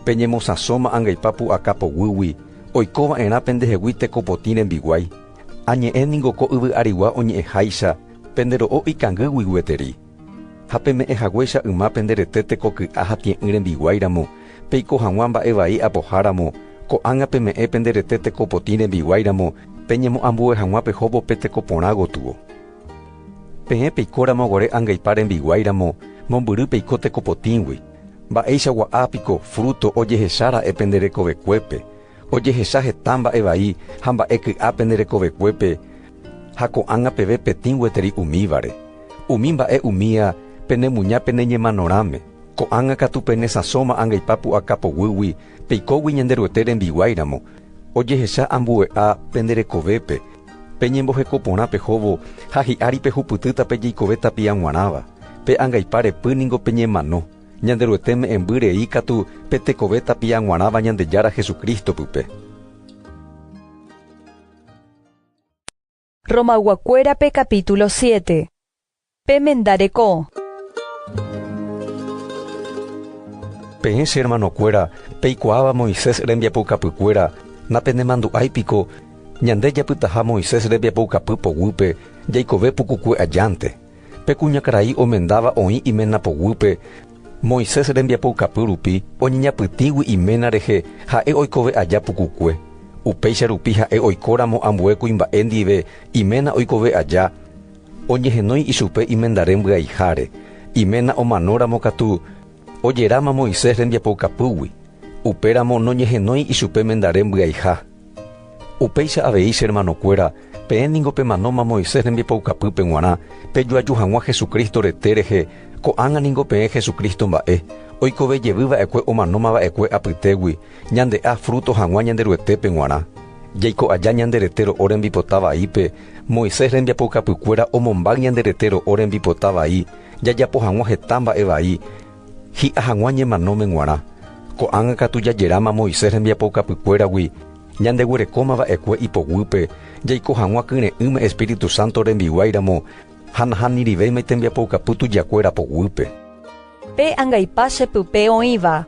Peñemosãsóma ág̃aipa pu'aka poguýgui oikova'erã pendehegui tekopotĩ rembiguái, añe'ẽ ningo ko yvy'arigua oñe'ẽháicha pende ro'o ikangýgui gueteri. Ha peme'ẽ haguéicha yma pende rete teko ky'a ha tie'ỹ rembiguái ramo, peiko hag̃ua mba'e vai apoha ramo, ko'ág̃a peme'ẽ pende rete teko potĩ rembiguái ramo, peñemo'ambue hag̃ua pehóvo pe teko porã gotyo. Peẽ peiko ramo gore angaipa rembiguái ramo, mombyry peiko teko potĩgui. Mba'eichagua ápiko, fruto, ojehecha ra'e pende rekovekuépe. Ojehecha heta mba'e vai ha mba'e ky'a pende rekovekuépe ha ko'ág̃a peve petĩ gueteri umívare. Umi mba'e umía pene muña pene ñemanorãme, ko'ág̃a katu pene sãsóma angaipa pu'aka poguýgui peikógui Ñanderuete rembiguái ramo, ojehecha ambue'a pende rekovépe, pe ñemboheko porã pehóvo ha hi'ári pehupytýta pe jeikove tapia g̃uarãva, pe angaipa repy ningo peñemano. Ñanderuete me'ẽmby rei katu pe tekove tapia g̃uarãva Ñandejára Jesucristo pype. Romag̃uakuérape capítulo siete. Pemenda reko. Peẽ che hermanokuéra, peikuaáva Moisés rembiapoukapykuéra, napenemandu'ái piko, Ñande japytaha Moisés rembiapoukapy poguýpe, jaikove pukukue ajánte. Pe kuñakarai omendáva oĩ iména poguýpe, Moisés rembiapoukapy rupi oñeñapytĩgui iména rehe ha'e oikove aja pukukue. Upéicha rupi ha'e oikóramo ambue kuimba'e ndive iména oikove aja, oñehenói ichupe imendare mbyaiháre. Iména omanóramo katu ojeráma Moisés rembiapoukapýgui, upéramo noñehenói ichupe mendare mbyaiha. Upéicha avei, che hermanokuéra, peẽ ningo pemanóma Moisés rembipoukapýpe g̃uarã, pejoaju hag̃ua Jesucristo rete rehe, ko'ág̃a ningo peẽ Jesucristo mba'e, oikove jevy va'ekue omanóma va'ekue apytégui, ñande'a fruto hag̃ua Ñanderuetépe g̃uarã. Jaiko aja ñande rete ro'o rembipota vaípe, Moisés rembiapoukapykuéra omombáy ñande rete ro'o rembipota vai, jajapo hag̃ua heta mba'e vai, Hi'a hag̃ua ñemanóme g̃uarã. Ko'ág̃a katu jajeráma Moisés rembiapoukapykuéragui, ñandeguerekóma va'ekue ipoguýpe, jaiko hag̃ua kyre'ỹme espíritu sánto rembiguáiramo ha nahanirivéima itembiapoukapy tujakuéra poguýpe. Pe angaipa che pype oĩva.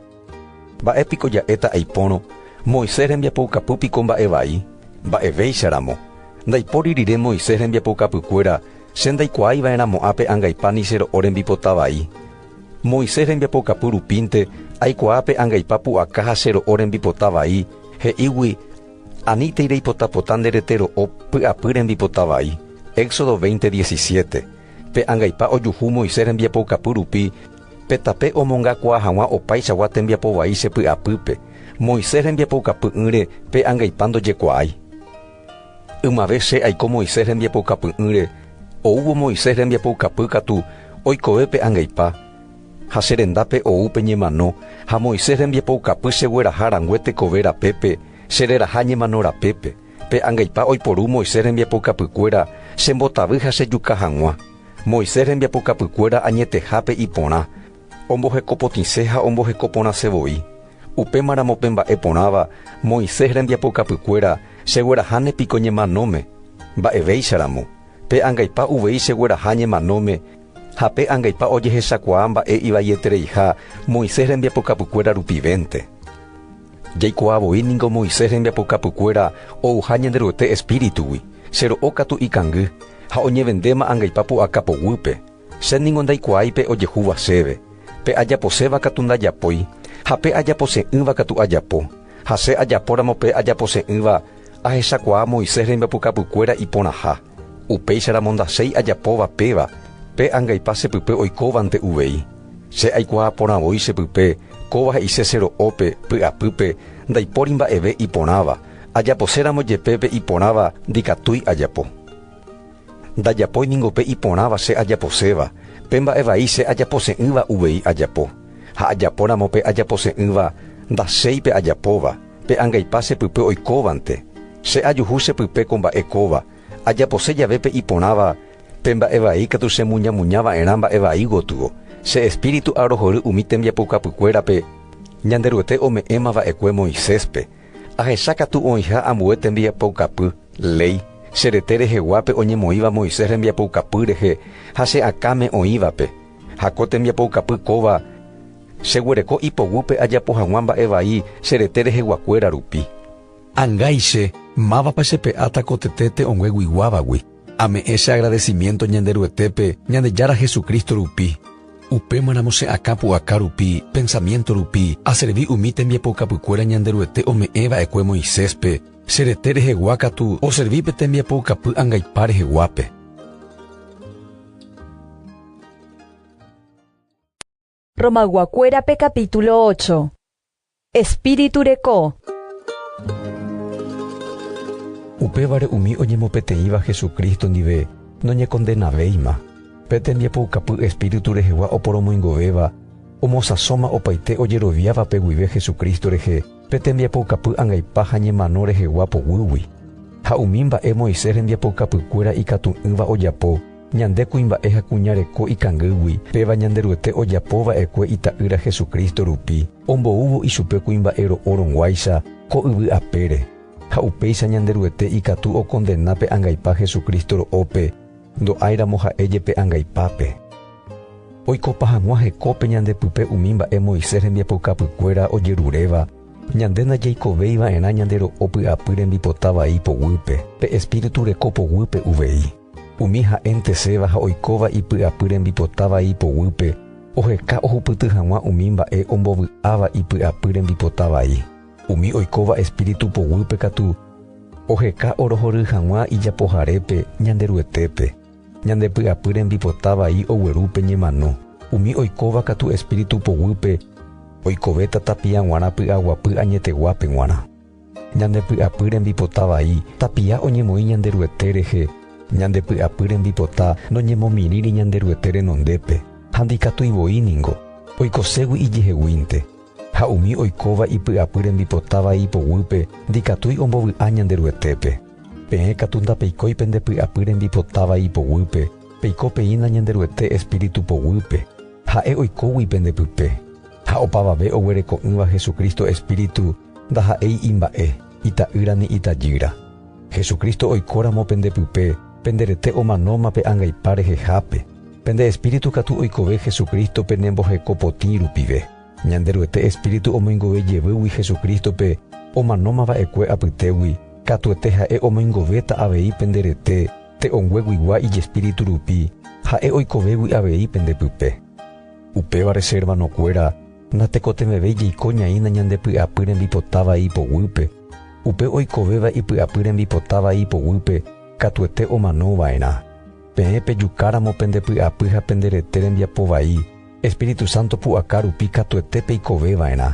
Mba'e piko ja'éta aipórõ? Moisés rembiapoukapy piko mba'e vai? Mba'evéicha ramo. Ndaipóri rire Moisés rembiapoukapykuéra, che ndaikuaái va'erãmo'ã pe angaipa ni che ro'o rembipota vai. Moisés rembiapokapu rupínte, aikuaa pe angaipa pu'aka ha che ro'o rembipota vai, he'ígui, Aníntei reipotapota nde rete ro'o py'apy rembipota vai. Éxodo veinte diesisiete. Pe angaipa ojuhu Moisés rembiapokapu rupi, pe tape omongakuaa hag̃ua opaichagua tembiapo vai che py'apýpe. Moisés rembiapoukapy'ỹre pe angaipa ndojekuaái. Ymave che aiko Moisés rembiapoukapy'ỹre, oúvo Moisés rembiapoukapy katu oikove pe angaipa, ha che rendápe ou pe ñemano, ha Moisés rembiapoukapy chegueraha rangue tekove rapépe, che reraha ñemano rapépe, pe angaipa oiporu Moisés rembiapoukapykuéra chembotavy ha chejuka hag̃ua, Moisés rembiapoukapykuéra añetehápe iporã, Ombohekopotĩse ha omboheko porãse voi. Upémaramo pe mba'e porãva, Moisés rembiapokapykuéra, chegueraháne piko ñemanóme? Mba'evéicharamo, pe angaipa uvei chegueraha ñemanóme, ha pe angaipa ojehechakuaa mba'e ivaietereiha Moisés rembiapokapykuéra rupivénte. Jaikuaa voi ningo Moisés rembiapokapykuéra ouha Ñanderuete espíritugui, chero'o katu ikangy, ha oñevendéma angaipa pu'aka poguýpe. Che ningo ndaikuaái pe ojehúva chéve, pe ajaposéva katu ndajapói, ha pe ajapose'ỹva katu ajapo, ha che ajapóramo pe ajapose'ỹva ahechakuaa Moisés rembyapukapukuéra iporãha, upéicharamo ndachéi ajapóva péva, pe angaipa chepype oikóvante uvei. Che aikuaa porã voi chepype kóva he'ise che ro'ópe, py'apýpe, ndaipóri mba'eve iporãva, ajaposéramo jepe pe iporãva ndikatúi ajapo. Ndajapói ningo pe iporãva che ajaposéva, pe mba'e vai che ajapose'ỹva uvei ajapo. Ha ajapóramo pe ajapose'ỹva, ndachéi pe ajapóva, pe angaipa che pype oikóvante. Che ajuhu che pype ko mba'e kóva, ajapose jave pe iporãva, pe mba'e vai katu chemuñamuña va'erã mba'e vai gotyo, che Espíritu arohory umi tembiapoukapykuérape Ñanderuete ome'ẽma va'ekue Moiséspe, Ahecha katu oĩha ambue tembiapoukapy, léi, che rete reheguápe oñemoĩva Moisés rembiapoukapy rehe ha che akãme oĩvape, ha ko tembiapoukapy kóva cheguereko ipoguýpe ajapo hag̃ua mba'e vai che rete reheguakuéra rupi. Angaiche, mávapa chepe'áta ko tetéte ongue guiguávagui? Ame'ẽ che agradecimiento Ñanderuetépe Ñandejára Jesucristo rupi. Upémaramo che akã pu'aka rupi, pensamiento rupi, aservi umi tembiapoukapykuéra Ñanderuete ome'ẽ va'ekue Moiséspe, che rete rehegua katu oservi pe tembiapoukapy angaipa reheguápe. Romayguakuérape capítulo ocho. Espíritu reko. Upévare umi oñemopeteĩva Jesucristo ndive noñekondenavéima. Pe tembiapoukapy Espíritu rehegua oporomoingovéva omosãsóma opaite ojeroviávape guive Jesucristo rehe pe tembiapoukapy angaipa ha ñemano rehegua poguýgui. Ha umi mba'e Moisés rembiapoukapykuéra ikatu'ỹva ojapo, Ñande kuimba'e ha kuña reko ikangýgui, péva Ñanderuete ojapo va'ekue Ita'ýra Jesucristo rupi, omboúvo ichupe kuimba'e ro'o rõguáicha ko yvy apére. Ha upéicha Ñanderuete ikatu okondena pe angaipa Jesucristo ro'ópe, ndo'áiramo ha'e jepe angaipápe. Oikopa hag̃ua hekópe ñande pype umi mba'e Moisés rembiapoukapykuéra ojeruréva, ñande ndajeikovéi va'erã ñande ro'o py'apy rembipota vai poguýpe, pe espíritu reko poguýpe uvei. Umi ha'enteséva ha oikóva ipy'apy rembipota vai poguýpe oheka ohupyty hag̃ua umi mba'e ombovy'áva ipy'apy rembipota vai. Umi oikóva espíritu poguýpe katu oheka orohory hag̃ua ijapoharépe Ñanderuetépe, ñande py'apy rembipota vai ogueru pe ñemano. Umi oikóva katu espíritu poguýpe oikovéta tapia g̃uarã py'aguapy añeteguápe g̃uarã. Ñande py'apy rembipota vai, tapia oñemoĩ Ñanderuete rehe. Ñande py'apy rembipota noñemomirĩri Ñanderuete renondépe, ha ndikatúi voi ningo, oikoségui ijeheguínte. Ha umi oikóva ipy'apy rembipota vai ipoguýpe ndikatúi ombovy'a Ñanderuetépe. Peẽ katu ndapeikói pende py'apy rembipota vai ipoguýpe, peiko peína Ñanderuete espíritu poguýpe, Ha'e oikógui pende pype. Ha opavave oguereko'ỹva Jesucristo espíritu ndaha'éi imba'e, ita'ýra ni itajýra. Jesucristo oikóramo pende pype, pende rete omanóma pe angaipa rehehápe, pende espíritu katu oikove Jesucristo penemboheko potĩ rupive. Ñanderuete espíritu omoingove jevýgui Jesucristo-pe omanóma va'ekue apytégui, katuete ha'e omoingovéta avei pende rete te'õngueguigua ijespíritu rupi, ha'e oikovégui avei pende pype. Upévare che hermanokuéra, natekotevẽvéi jaiko ñaína ñande py'apy rembipota vai ipoguýpe, upe oikovéva ipy'apy rembipota vai ipoguýpe katuete omano va'erã. Peẽ pejukáramo pende py'apy ha pende rete rembiapo vai, Espíritu Santo pu'aka rupi katuete peikove va'erã.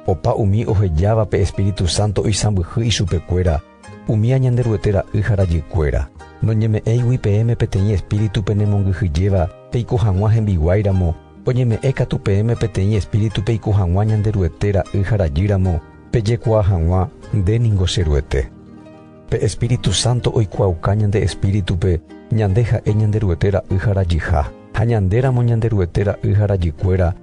Opa umi ohejáva pe Espíritu Santo oisãmbyhy ichupekuéra, Umía Ñanderuete ra'y ha rajykuéra, noñeme'ẽigui peẽme peteĩ espíritu penemongyhyjéva peiko hag̃ua hembiguái ramo, oñeme'ẽ katu peẽme peteĩ espíritu peiko hag̃ua Ñanderuete ra'y ha rajy ramo, pejekuaa hag̃ua, Nde ningo che Ruete. Pe Espíritu Santo oikuaauka ñande espíritu-pe ñande ha'e Ñanderuete ra'y ha rajyha, ha ñande ramo Ñanderuete ra'y ha rajykuéra,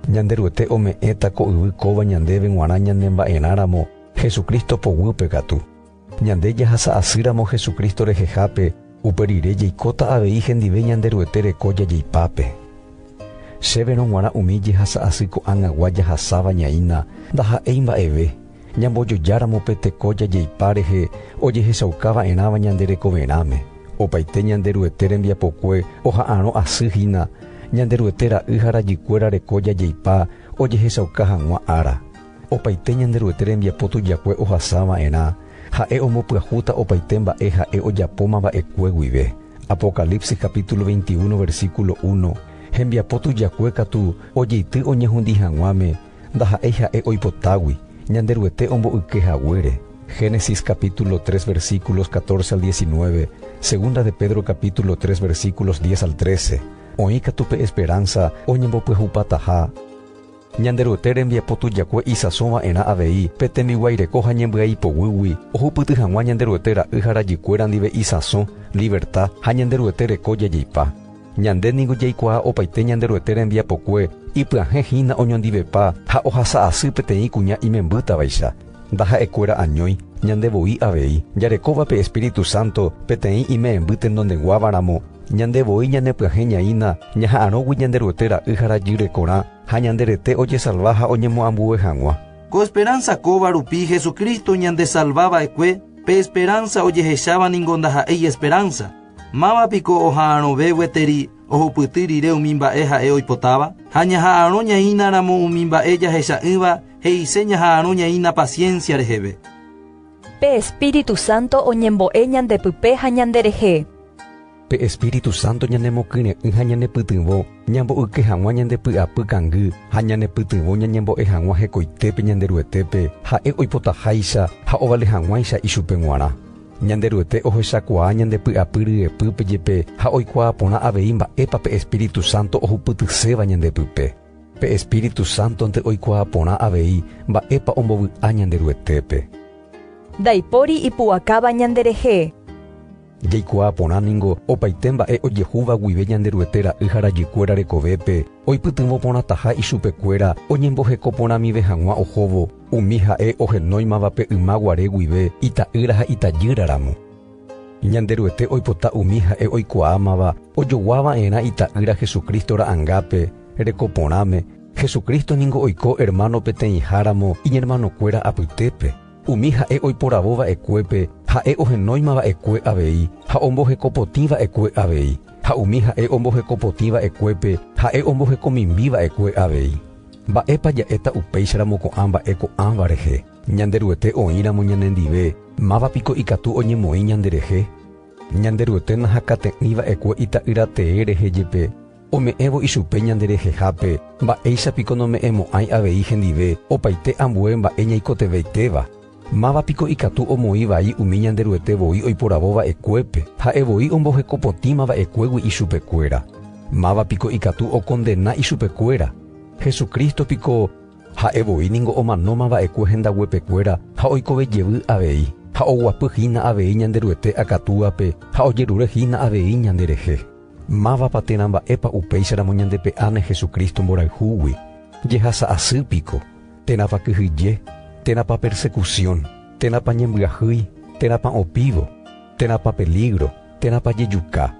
Ñanderuete ome'ẽta ko yvy kóva ñandéve g̃uarã ñanemba'erã ramo, Jesucristo poguýpe katu. Ñande jahasa asýramo Jesucristo rehehápe upe rire jeikóta avei hendive Ñanderuete reko jajeipápe. Chéverõ g̃uarã umi jehasa asy ko'ág̃agua jahasáva ñaína ndaha'éi mba'eve, ñambojojáramo pe teko jajeipa rehe ojehechauka va'erãva ñande rekoverãme, opaite Ñanderuete rembiapokue oha'arõ asy hína Ñanderuete ra'y ha rajykuéra reko jajeipa ojehechauka hag̃ua ára. Opaite Ñanderuete rembiapo tujakue ohasa va'erã, ha'e ombopyahúta opaite mba'e ha'e ojapóma va'ekue guive. Apocalipsis capítulo veinti uno versículo uno, Hembiapo tujakue katu ojeity oñehundi hag̃uáme, ndaha'éi ha'e oipotágui, Ñanderuete omboyke haguére. Génesis capítulo tres versículos catorce al diecinueve, segunda de Pedro capítulo tres versículos diez al trece, oĩ katu pe esperánsa oñembopyahupataha. Ñanderuete rembiapo tujakue isãso va'erã avei pe tembiguaireko ha ñembyaipoguýgui ohupyty hag̃ua Ñanderuete ra'y ha rajykuéra ndive isãso, liverta ha Ñanderuete reko jajeipa. Ñande ningo jaikuaa opaite Ñanderuete rembiapokue ipyahẽ hína oñondivepa ha ohasa asy peteĩ kuña imembýtavaicha. Ndaha'ekuéra añói ñande voi avei, jarekóva pe Espíritu Santo peteĩ ime'ẽmby tenondeguávaramo, ñande voi ñanepyahẽñaína ñaha'arõgui ñande Ruete Ra'y ha Rajirekorã ha ñande rete ojesalva ha oñemoambue hag̃ua. Ko esperánsa kóva rupi Jesucristo ñandesalva va'ekue, pe esperánsa ojehecháva ningo ndaha'éi esperánsa. Máva piko oha'arõve gueteri ohupyty rire umi mba'e ha'e oipotáva? Ha ñaha'arõñaínaramo umi mba'e jahecha'ỹva He'ise ñaha'arõ ñaína paciencia reheve. Pe Espíritu Santo oñembo'e ñandepype ha ñanderehe. Pe Espíritu Santo ñanemokyre'ỹ ha ñanepytyvõ ñambo'yke hag̃ua ñande py'apy kangy ha ñanepytyvõ ñañembo'e hag̃ua hekoitépe Ñanderuetépe ha'e oipotaháicha ha ovale hag̃uáicha ichupe g̃uarã. Ñanderuete ohechakuaa ñande py'apy ryepýpe jepe ha oikuaa porã avei mba'épa pe Espíritu Santo ohupytyséva ñandepype. Pe Espíritu Sántonte oikuaa porã avei mba'épa ombovy'a Ñanderuetépe. Ndaipóri ipu'akáva ñanderehe. Jaikuaa porã ningo opaite mba'e ojehúva guive Ñanderuete ra'y ha rajykuéra rekovépe, oipytyvõ porãtaha ichupekuéra oñemboheko porãmive hag̃ua ohóvo umi ha'e ohenóimavape yma guare guive ita'ýra ha itajýra ramo. Ñanderuete oipota umi ha'e oikuaámava ojogua va'erã Ita'ýra Jesucristo ra'angápe, reko porãme, Jesucristo ningo oiko ermáno peteĩháramo iñermanokuéra apytépe. Umi ha'e oiporavo va'ekuépe, ha'e ohenóima va'ekue avei ha ombohekopotĩ va'ekue avei, ha umi ha'e ombohekopotĩ va'ekuépe, ha'e ombohekomimbi va'ekue avei. Mba'épa ja'éta upéicharamo ko'ã mba'e ko'ãva rehe? Ñanderuete oĩramo ñanendive, máva piko ikatu oñemoĩ ñanderehe? Ñanderuete nahakate'ỹ va'ekue Ita'ýra tee rehe jepe, ome'ẽvo ichupe ñanderehehápe, mba'éicha piko nome'ẽmo'ãi avei hendive opaite ambue mba'e ñaikotevẽitéva? Máva piko ikatu omoĩ vai umi Ñanderuete voi oiporavo va'ekuépe, ha'e voi omboheko potĩma va'ekuégui ichupekuéra? Máva piko ikatu okondena ichupekuéra? Jesucristo piko Ha'e voi ningo omanóma va'ekue hendaguepekuéra ha oikove jevy avei, ha oguapy hína avei Ñanderuete akatúape ha ojerure hína avei ñanderehe. Mávapa térã mba'épa upéicharamo ñandepe'áne Jesucristo mborayhúgui? Jehasa asy piko? Térãpa kyhyje? Térãpa persecución? Térãpa ñembyahýi? Térãpa opívo? Térãpa peligro? Térãpa jejuka?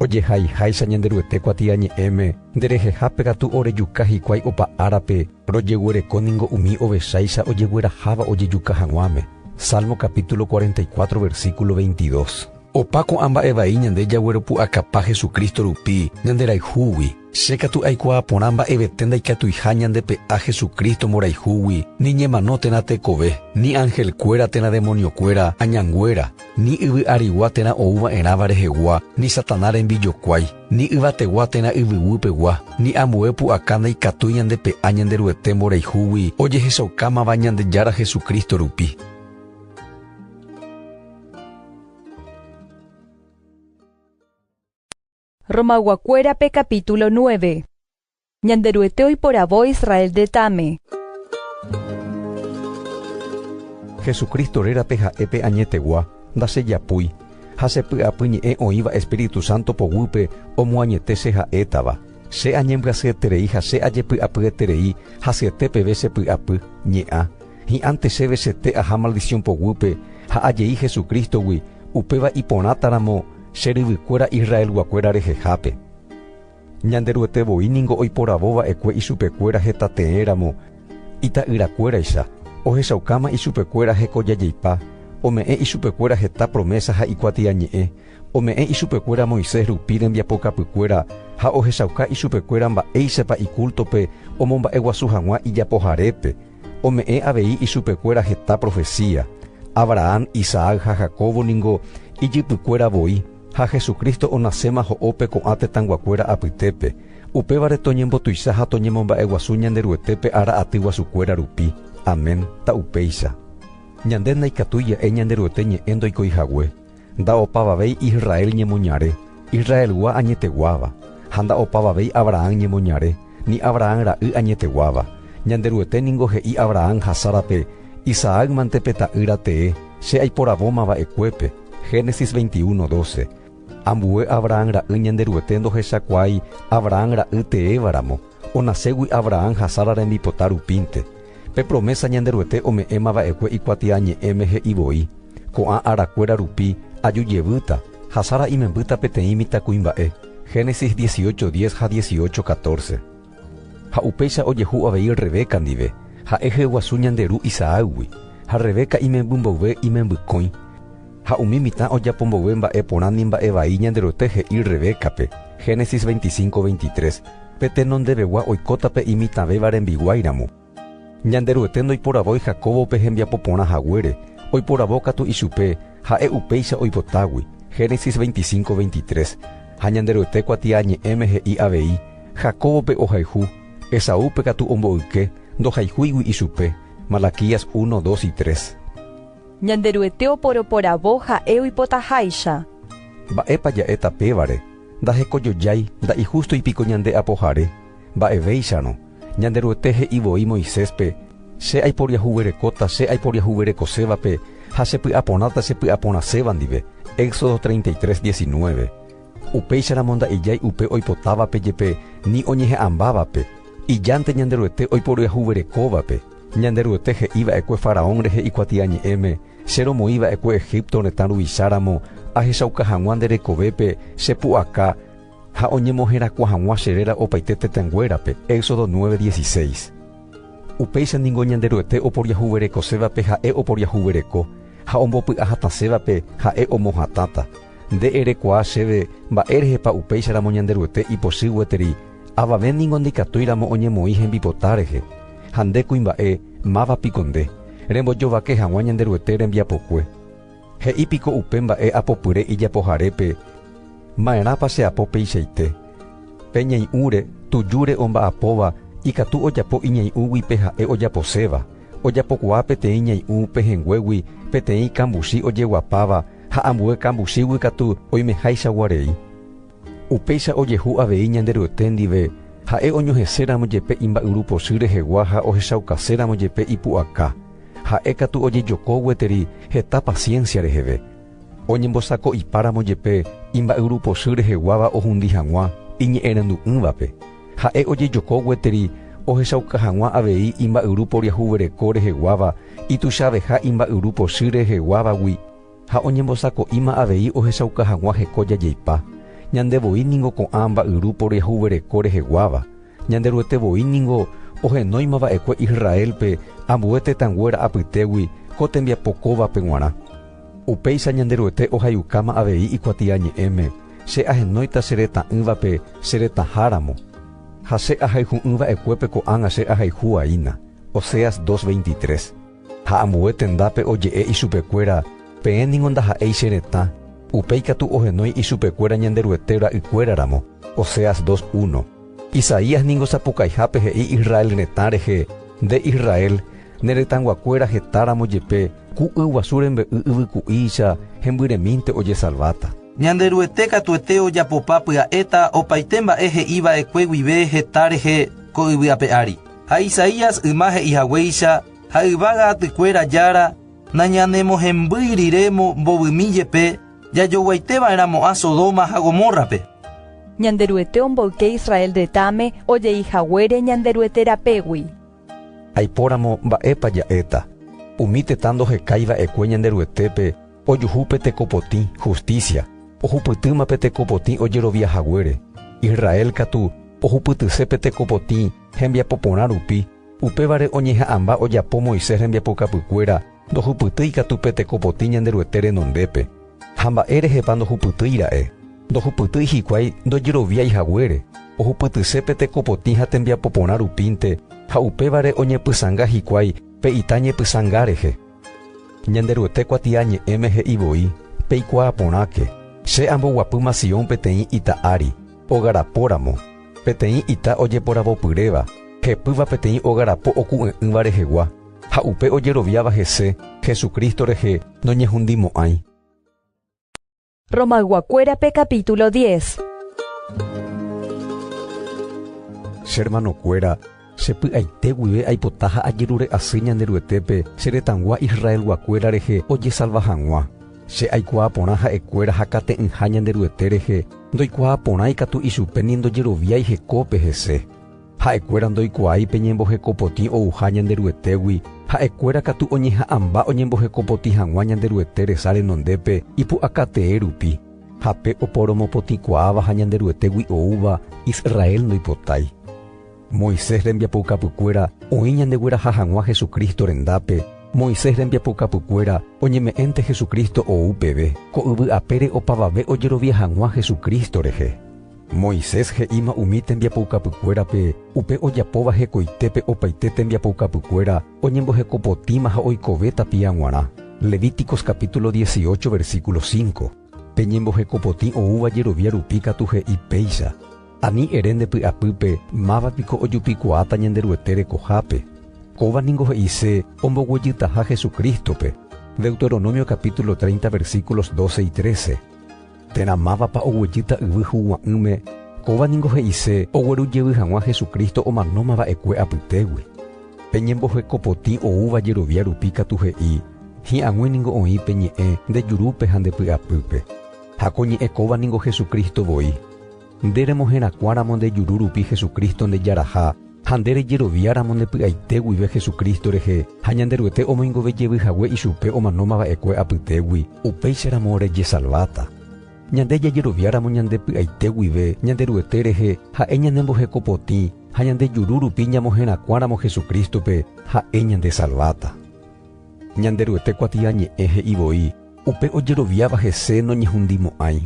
Ojehaiháicha Ñanderuete kuatiañe'ẽme, nderehehápe katu orejuka hikuái opa árape, rojeguereko ningo umi ovecháicha ojegueraháva ojejuka hag̃uáme. Salmo capítulo cuarenta y cuatro versículo veintidós. Opa ko'ã mba'e vai ñande jagueropu'akapa Jesucristo rupi ñanderayhúgui. Che katu aikuaa porã mba'evete ndaikatuiha ñande pe'a Jesucristo mborayhúgui, ni ñemano térã tekove, ni ángel kuéra térã demonio kuéra, añanguéra, ni yvy arigua térã ou va'erãva rehegua, ni Satanás rembijokuái, ni yvategua térã yvyguy pegua, ni ambue pu'aka ndaikatúi ñande pe'a Ñanderuete mborayhúgui ojehechaukámava Ñandejára Jesucristo rupi. Romayguakuérape capítulo nueve. Ñanderuete oiporavo Israel retãme. Jesucristo rérape ha'e pe añetegua ndasejapúi, ha che py'apy ñe'ẽ oĩva Espíritu Santo poguýpe omoañete che ha'étava. Che añembyasyeterei ha che ajepy'apyeterei hasyete peve che py'apy, ñe'ã. Hi'ãnte chéve chete aha maldición poguýpe ha ajei Jesucristo-gui, upéva iporãtaramo Che ryvykuéra Israelguakuéra rehehápe. Ñanderuete voi ningo oiporavo va'ekue ichupekuéra heta tee ramo ita'yrakuéraicha, ohechaukáma ichupekuéra hekojajeipa, ome'ẽ ichupekuéra heta promésa ha ikuatiañe'ẽ, ome'ẽ ichupekuéra Moisés rupi rembiapokapykuéra ha ohechauka ichupekuéra mba'éichapa ikúltope omomba'eguasu hag̃ua ijapoharépe, Ome'ẽ avei ichupekuéra heta profesía, Abrahán, Isaac ha Jacobo ningo ijypykuéra voi, ha Jesucristo onaséma ho'ópe ko'ã tetãyguakuéra apytépe, upévare toñembotuicha ha toñemomba'eguasu Ñanderuetépe ára aty guasukuéra rupi. Amén. Ta upéicha. Ñande ndaikatúi ja'e Ñanderuete ñe'ẽ ndoikoi hague. Nda'opavavéi Israel ñemoñare, Israelgua añeteguáva, ha nda'opavavéi Abrahán ñemoñare, ni Abrahán ra'y añeteguáva. Ñanderuete ningo he'i Abrahán ha Sárape, Isaac mante pe ta'ýra tee, che aiporavóma va'ekuépe. Génesis 21, 12. Ambue Abrahán ra'y Ñanderuete ndohechakuaái Abrahán ra'y teéva ramo, onaségui Abrahán ha Sara rembipota rupínte. Pe promésa Ñanderuete ome'ẽma va'ekue Ikuatiañe'ẽme he'i voi, Ko'ã arakuéra rupi aju jevýta ha Sara imembýta peteĩ mitãkuimba'e. Génesis dieciocho diez ha dieciocho catorce. Ha upéicha ojehu avei Rebeca ndive, ha'e hyeguasu ñande ru Isaácgui, ha Rebeca imemby mboyve imembykõi, Ha umi mitã ojapo mboyve mba'e porã ni mba'e vai Ñanderuete he'i Rebeca-pe, Génesis 25, 23, Pe tenondevegua oikóta pe imitãvéva rembiguái ramo. Ñanderuete ndoiporavói Jacóbope hembiapo porã haguére, oiporavo katu ichupe, ha'e upéicha oipotágui, Génesis 25, 23. Ha Ñanderuete kuatiañe'ẽme he'i avei, Jacóbope ohayhu, Esaúpe katu omboyke, ndohayhúigui ichupe, Malaquías 1, 2 y 3. Ñanderuete oporoporavo ha'e oipotaháicha. Mba'épa ja'éta pévare, ndahekojoiái nda'ihústoi piko ñande Apohare? Mba'evéicharõ, Ñanderuete he'i voi Moiséspe, Che aiporiahuverekóta che aiporiahuverekosévape ha chepy'aporãta chepy'aporãséva ndive, Éxodo 33, 19. Upéicharamo nda'ejái upe oipotávape jepe ni oñeha'ãmbávape, ijánte Ñanderuete oiporyahuverekóvape, Ñanderuete he'iva'ekue faraón rehe ikuatiañe'ẽme, Che romoĩva'ekue Egípto retã ruvicháramo, ahechauka hag̃ua nde rekovépe che pu'aka ha oñemoherakuã hag̃ua che réra opaite tetãnguérape. Éxodo nueve, dieciséis. Upéicha ningo Ñanderuete oporiahuverekosévape ha'e oporiahuvereko, ha ombopy'a hatãsévape ha'e omohatãta. Nde erekuaa chéve mba'érehepa upéicharamo Ñanderuete ipochy gueteri, avave ningo ndaikatúiramo oñemoĩ hembipota rehe. Ha nde kuimba'e, máva piko nde, rembojovake hag̃ua Ñanderuete rembiapokue. He'i piko upe mba'e apopyre ijapoharépe, Ma'erãpa che apo peichaite? Pe ñai'ũre, tujúre omba'apóva ikatu ojapo iñai'ũgui pe ha'e ojaposéva, ojapokuaa peteĩ ñai'ũ pehẽnguégui peteĩ kambuchi ojeguapáva ha ambue kambuchígui katu oimeháichagua rei. Upéicha ojehu avei Ñanderuete ndive Ha'e oñoheséramo jepe imba'yru pochy rehegua ha ohechaukaséramo jepe ipu'aka. Ha'e katu ojejoko gueteri heta paciencia reheve. Oñembosako'ipáramo jepe imba'yru pochy reheguáva ohundi hag̃ua iñe'ẽrandu'ỹvape, Ha'e ojejoko gueteri ohechauka hag̃ua avei imba'yru poriahuvereko reheguáva ituichaveha imba'yru pochy reheguávagui. Ha oñembosako'íma avei ohechauka hag̃ua heko jajeipa, ñande voi ningo ko'ã mba'yru poryahuvereko reheguáva, Ñanderuete voi ningo ohenóima va'ekue Israélpe ambue tetãnguéra apytégui ko tembiapo kóvape g̃uarã. Upéicha Ñanderuete ohayukáma avei ikuatiañe'ẽme, Che ahenóita che retã'ỹvape che retãháramo, ha che ahayhu'ỹ va'ekuépe ko'ág̃a che ahayhuaína. Oseas dos veintitres. Ha ambue tendápe oje'e ichupekuéra, Peẽ ningo ndaha'éi che retã, upe ikatu ohenói ichupekuéra Ñanderuete ra'ykuéra ramo. Oseas 2, 1. Isaías ningo sapukaihápe he'i Israel retã rehe, Nde Israel, ne retãyguakuéra heta ramo jepe, ku y guasu rembe'y yvyku'íicha hembyremínte ojesalváta. Ñanderuete katuete ojapopa pya'éta opaite mba'e he'i va'ekue guive heta rehe ko yvy ape ári. ha Isaías yma he'i haguéicha ha yvága atykuéra Jára nañanemohembýi rire mbovymi jepe jajoguaite va'erã mo'ã Sodoma ha Gomórrape. Ñanderuete omboyke Israel retãme ojei haguére Ñanderuete rapégui. Aipóramo mba'épa ja'éta, umi tetã ndohekái va'ekue Ñanderuetépe ojuhu pe tekopotĩ, hustísia, ohupytýma pe tekopotĩ ojerovia haguére, Israel katu ohupytyse pe tekopotĩ, Hembiapo porã rupi, upévare oñeha'ãmba ojapo Moisés rembiapokapykuéra ndohupytýi katu pe tekopotĩ Ñanderuete renondépe. Ha mba'e rehepa ndohupytýi ra'e? Ndohupytýi hikuái ndojeroviái haguére, ohupytyse pe tekopotĩ ha tembiapo porã rupínte ha upévare oñepysãnga hikuái pe ita ñepysãnga rehe. Ñanderuete kuatiañe'ẽme he'i voi, Peikuaa porãke, Che amboguapýma Sión peteĩ ita ári, Ogarapo ramo, peteĩ ita ojeporavopyréva, hepýva peteĩ ogarapo oku'e'ỹva rehegua, ha upe ojeroviáva hese, Jesucristo rehe, noñehundimo'ãi. Romayguakuérape capítulo diez. Che hermanokuéra, Che py'aite guive aipota ha ajerure asy Ñanderuetépe che retãgua Israelguakuéra rehe ojesalva hag̃ua. Che aikuaa porã ha'ekuéra hakate'ỹha Ñanderuete rehe, ndoikuaa porã ikatu ichupe ni ndojeroviái hekópe hese. Ha'ekuéra ndoikuaái pe ñembohekopotĩ ouha Ñanderuetégui, ha'ekuéra katu oñeha'ãmba oñembohekopotĩ hag̃ua Ñanderuete resa renondépe ipu'akatee rupi. Ha pe oporomopotĩkuaáva ha Ñanderuetégui oúva, Israel ndoipotái. Moisés rembiapoukapykuéra oĩ ñandegueraha hag̃ua Jesucristo rendápe, Moisés rembiapoukapykuéra oñeme'ẽnte Jesucristo ou peve, ko yvy apére opavave ojerovia hag̃ua Jesucristo rehe. Moisés he'íma umi tembiapoukapykuérape upe ojapóva hekoitépe opaite tembiapoukapykuéra oñembohekopotĩma ha oikove tapia g̃uarã, Levíticos capítulo dieciocho versículo cinco. Pe ñembohekopotĩ oúva jerovia rupi katu he'i péicha, Ani ere nde py'apýpe, Máva piko ojupikuaáta Ñanderuete rekohápe? Kóva ningo he'ise omboguejytaha Jesucristo-pe, Deuteronomio capítulo 30 versículos 12 y 13. Térã mávapa oguejýta yvy huguã'ỹme, kóva ningo he'ise ogueru jevy hag̃ua Jesucristo omanóma va'ekue apytégui. Pe ñemboheko potĩ oúva jerovia rupi katu he'i, Hi'ag̃ui ningo oĩ pe ñe'ẽ nde jurúpe ha nde py'apýpe. Ha ko ñe'ẽ kóva ningo Jesucristo voi. Nde remoherakuãramo nde juru rupi Jesucristo ndejaraha, ha nde rejeroviáramo nde py'aite guive Jesucristo rehe ha Ñanderuete omoingove jevy hague ichupe omanóma va'ekue apytégui, upéicharamo rejesalváta. Ñande jajeroviáramo ñande py'aite guive Ñanderuete rehe, ha'e ñanemboheko potĩ, ha ñande juru rupi ñamoherakuãramo Jesucristo-pe, ha'e ñandesalváta. Ñanderuete kuatiañe'ẽ he'i voi, Upe ojeroviáva hese noñehundimo'ãi.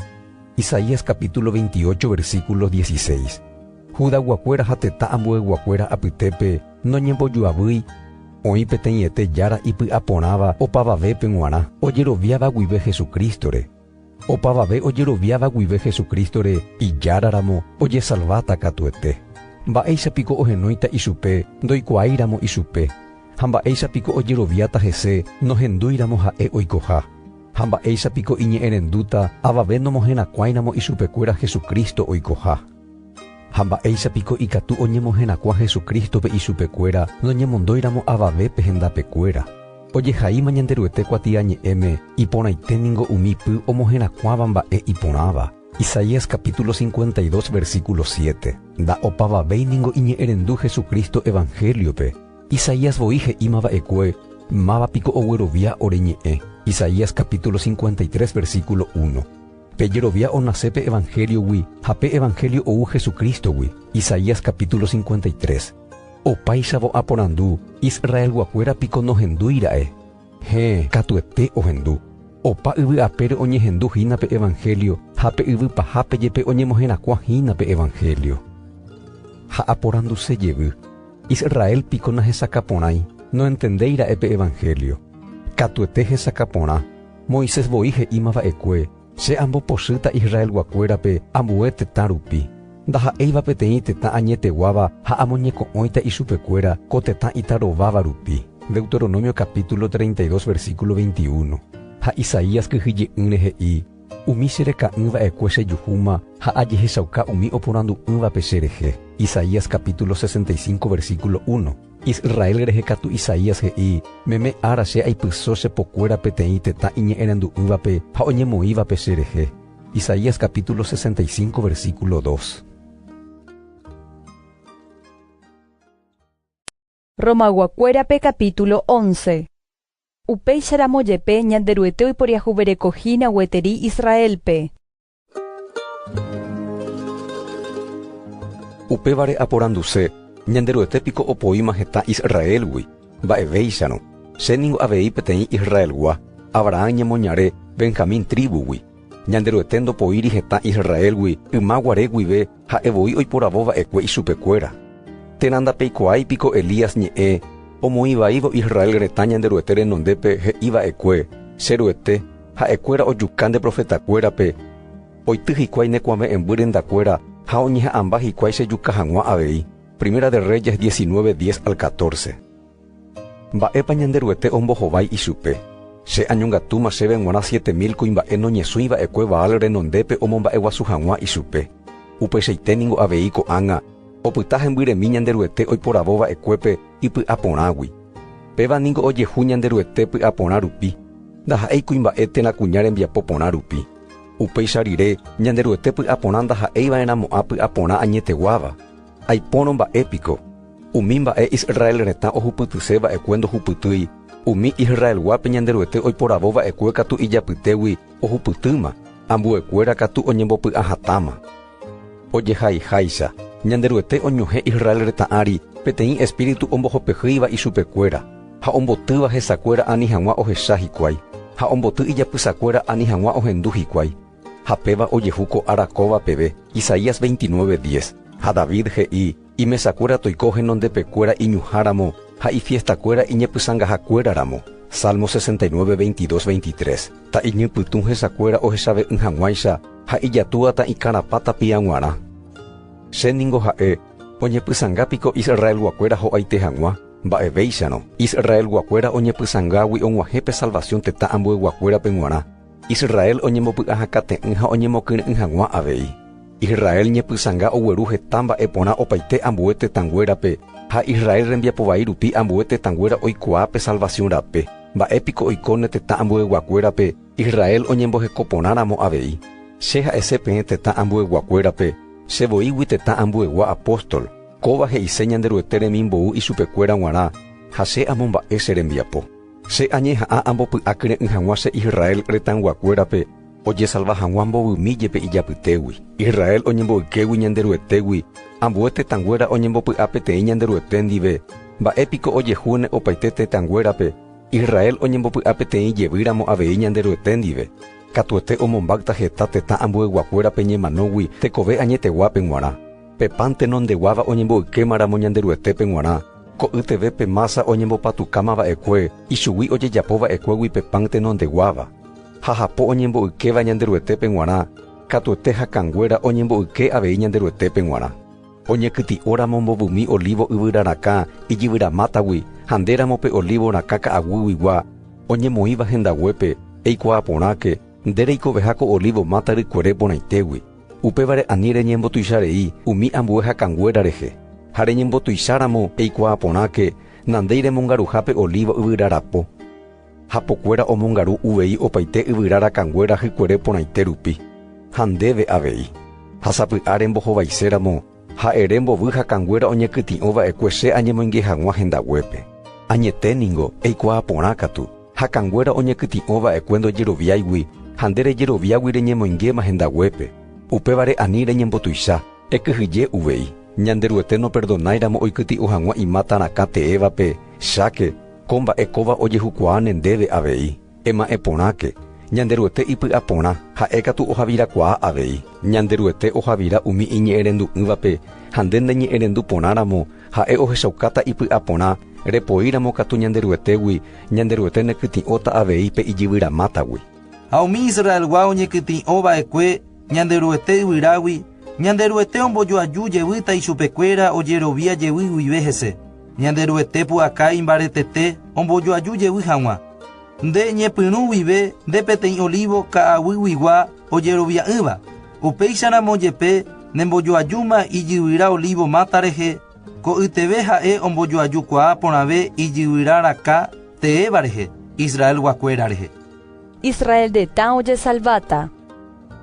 Isaías capítulo veintiocho versículo dieciséis. Judayguakuéra ha tetã ambueyguakuéra apytépe noñembojoavýi oĩ peteĩete Jára ipy'aporãva opavavépe g̃uarã, ojeroviáva guive Jesucristo-re. Opavave ojeroviáva guive Jesucristo-re Ijáraramo ojesalváta katuete. Mba'éicha piko ohenóita ichupe ndoikuaáiramo ichupe? ha mba'éicha piko ojeroviáta hese nohendúiramo ha'e oikoha? Ha mba'éicha piko iñe'ẽrendúta avave nomoherakuãiramo ichupekuéra Jesucristo oikoha? Ha mba'éicha piko ikatu oñemoherakuã Jesucristo-pe ichupekuéra noñemondóiramo avave pe hendapekuéra? Ojehaíma Ñanderuete kuatiañe'ẽme iporãite ningo umi py omoherakuãva mba'e iporãva. Isaías capítulo 52 versículo 7. Nda'opavavéi ningo iñe'ẽrendu Jesucristo evangelio-pe, Isaías voi he'íma va'ekue, Máva piko oguerovia ore ñe'ẽ? Isaías capítulo 53 versículo 1. Pe jerovia onase pe Evangeliogui ha pe Evangelio ou Jesucristo-gui, Isaías capítulo 53. Opáichavo aporandu, Israelguakuéra piko nohendúi ra'e? Héẽ, katuete ohendu. Opa yvy apére oñehendu hína pe Evangelio ha pe yvy pahápe jepe oñemoherakuã hína pe Evangelio. Ha aporanduse jevy. Israel piko nahesakã porãi, noentendéi ra'e pe evangelio. Katuete hesakã porã. Moisés voi he'íma va'ekue, Che ambopochýta Israelguakuérape ambue tetã rupi. Ndaha'éiva peteĩ tetã añeteguáva ha amoñeko'õita ichupekuéra ko tetã itarováva rupi. Deuteronomio capítulo treinta y dos versículo veintiuno. Ha Isaías kyhyje'ỹre he'i, Umi che reka'ỹ va'ekue chejuhúma ha ajehechauka umi oporandu'ỹvape che rehe. Isaías capítulo sesenta y cinco versículo uno, Israel rehe katu Isaías he'i, Meme ára che aipyso che pokuéra peteĩ tetã iñe'ẽrendu'ỹvape ha oñemoĩvape che rehe. Isaías capítulo sesenta y cinco versículo dos. Romagua-kuérape capítulo once. Upéicharamo jepe Ñanderuete oiporiahuverekohína gueteri Israélpe. Upévare aporanduse, Ñanderuete piko opoíma heta Israélgui? Mba'evéicharõ. Che ningo avei peteĩ Israelgua, Abrahán ñemoñare Benjamín tríbugui. Ñanderuete ndopoíri heta Israélgui yma guare guive Ha'e voi oiporavo va'ekue ichupekuéra, Térã ndapeikuaái piko Elías ñe'ẽ omoĩvaívo Israel retã Ñanderuete renondépe he'i va'ekue, 'Che Ruete, ha'ekuéra ojuka nde profetakuérape, oity hikuái ne kuave'ẽmby rendakuéra ha oñeha'ãmba hikuái che juka hag̃ua avei'. Primera de Reyes diecinueve, diez al catorce. Mba'épa Ñanderuete ombohovái ichupe, Che añongatúma chéve g̃uarã siete mil kuimba'e noñesũi va'ekue Baal renondépe omomba'eguasu hag̃ua ichupe. Upeichaite ningo avei ko'ág̃a opyta hembyremi Ñanderuete oiporavo va'ekuépe ipy'aporãgui. Péva ningo ojehu Ñanderuete py'aporã rupi, ndaha'éi kuimba'e térã kuña rembiapo porã rupi. Upéicha rire, Ñanderuete py'aporã ndaha'éi va'erãmo'ã py'aporã añeteguáva. Aipórõ mba'e piko? Umi mba'e Israel retã ohupytyse va'ekue ndohupytýi, umi Israelguápe Ñanderuete oiporavo va'ekue katu ijapytégui ohupytýma, ambuekuéra katu oñembopy'a hatãma. Ojehaiháicha, Ñanderuete oñuhẽ Israel retã ári peteĩ espíritu ombohopehýiva ichupekuéra, ha ombotýva hesakuéra ani hag̃ua ohecha hikuái, ha omboty ijapysakuéra ani hag̃ua ohendu hikuái. Ha péva ojehu ko ára kóva peve, Isaías 29, 10. Ha David he'i, Imesakuéra toiko henondepekuéra iñuhãramo, ha ifiestakuéra iñepysangahakuéraramo. Salmo 69, 22, 23. Ta iñypytũ hesakuéra ohechave'ỹ hag̃uáicha, ha ijatúa ta ikarapã tapia g̃uarã. Che ningo ha'e, oñepysanga piko Israelguakuéra ho'aite hag̃ua? Mba'evéicharõ, Israelguakuéra oñepysangágui og̃uahẽ pe salvasiõ tetã ambueyguakuérape g̃uarã. Israel oñembopy'a hakate'ỹ ha oñemokyre'ỹ hag̃ua avei. Israel ñepysãnga ogueru heta mba'e porã opaite ambue tetãnguérape, ha Israel rembiapo vai rupi ambue tetãnguéra oikuaa pe salvasiõ rape. Mba'e piko oiko ne tetã ambueyguakuérape, Israel oñemboheko porã ramo avei? Che ha'ese peẽ tetã ambueyguakuérape, che voígui tetã ambuegua apóstol, kóva he'ise Ñanderuete remimbou ichupekuéra g̃uarã, ha che amomba'e che rembiapo. Che añeha'ã ambopy'akyre'ỹ hag̃ua che Israel retãyguakuérape ojesalva hag̃ua mbovymi jepe ijapytégui, Israel oñemboykégui Ñanderuetégui, ambue tetãnguéra oñembopy'a peteĩ Ñanderuete ndive. Mba'e piko ojehúne opaite tetãnguérape, Israel oñembopy'a peteĩ jevýramo avei Ñanderuete ndive? Katuete omombáta heta tetã ambueyguakuérape ñemanógui tekove añeteguápe g̃uarã. Pepánte nondeguáva oñemboykéma ramo Ñanderuetépe g̃uarã, ko'y teve pe mása oñembopatukáma va'ekue ichugui ojejapo va'ekuégui pe pánte nondeguáva. Jajapo oñemboykéva Ñanderuetépe g̃uarã, katuete hakãnguéra oñemboyke avei Ñanderuetépe g̃uarã. Oñekyti'o ramo mbovymi olívo yvyra rakã ijyvyra mátagui ha nde ramo pe olívo rakã ka'aguýguigua, oñemoĩva hendaguépe, eikuaa porãke, nde reikoveha ko olívo máta rykuere porãitégui. Upévare ani reñembotuicha rei umi ambue hakãnguéra rehe, ha reñembotuicháramo eikuaa porãke nandéi remongaruha pe olíva yvyra rapo. Hapokuéra omongaru uvei opaite yvyra rakãnguéra hykuere porãite rupi, ha ndéve avei, ha sapy'a rembohovaiséramo Ha ere mbovy hakãnguéra oñekytĩ'o va'ekue che añemoinge hag̃ua hendaguépe. Añete ningo, eikuaa porã katu, hakãnguéra oñekytĩ'o va'ekue ndojeroviáigui ha nde rejeroviágui reñemoingéma hendaguépe, upévare ani reñembotuicha. Ekyhyje uvei, Ñanderuete noperdonáiramo oikytĩ'o hag̃ua imáta rakã teévape, cháke, ko mba'e kóva ojehukuaa ne ndéve avei. Ema'ẽ porãke, Ñanderuete ipy'aporã, ha'e katu ohavirakuaa avei. Ñanderuete ohavira umi iñe'ẽrendu'ỹvape, ha nde neñe'ẽrendu porãramo, ha'e ohechaukáta ipy'aporã, repoíramo katu Ñanderuetégui, Ñanderuete nekytĩ'óta avei pe ijyvyramátagui. Ha umi Israelgua oñekytĩ'o va'ekue Ñanderuete yvyrágui, Ñanderuete ombojoaju jevýta ichupekuéra ojerovia jevy guive hese. Ñanderuete pu'aka imbaretete ombojoaju jevy hag̃ua. Nde ñepyrũ guive nde peteĩ olívo ka'aguyguigua ojerovia'ỹva, upéicharamo jepe nembojoajúma ijyvyra olívo máta rehe, ko'yteve ha'e ombojoajukuaa porãve ijyvyra rakã teéva rehe, Israelguakuéra rehe. Israel retã ojesalváta.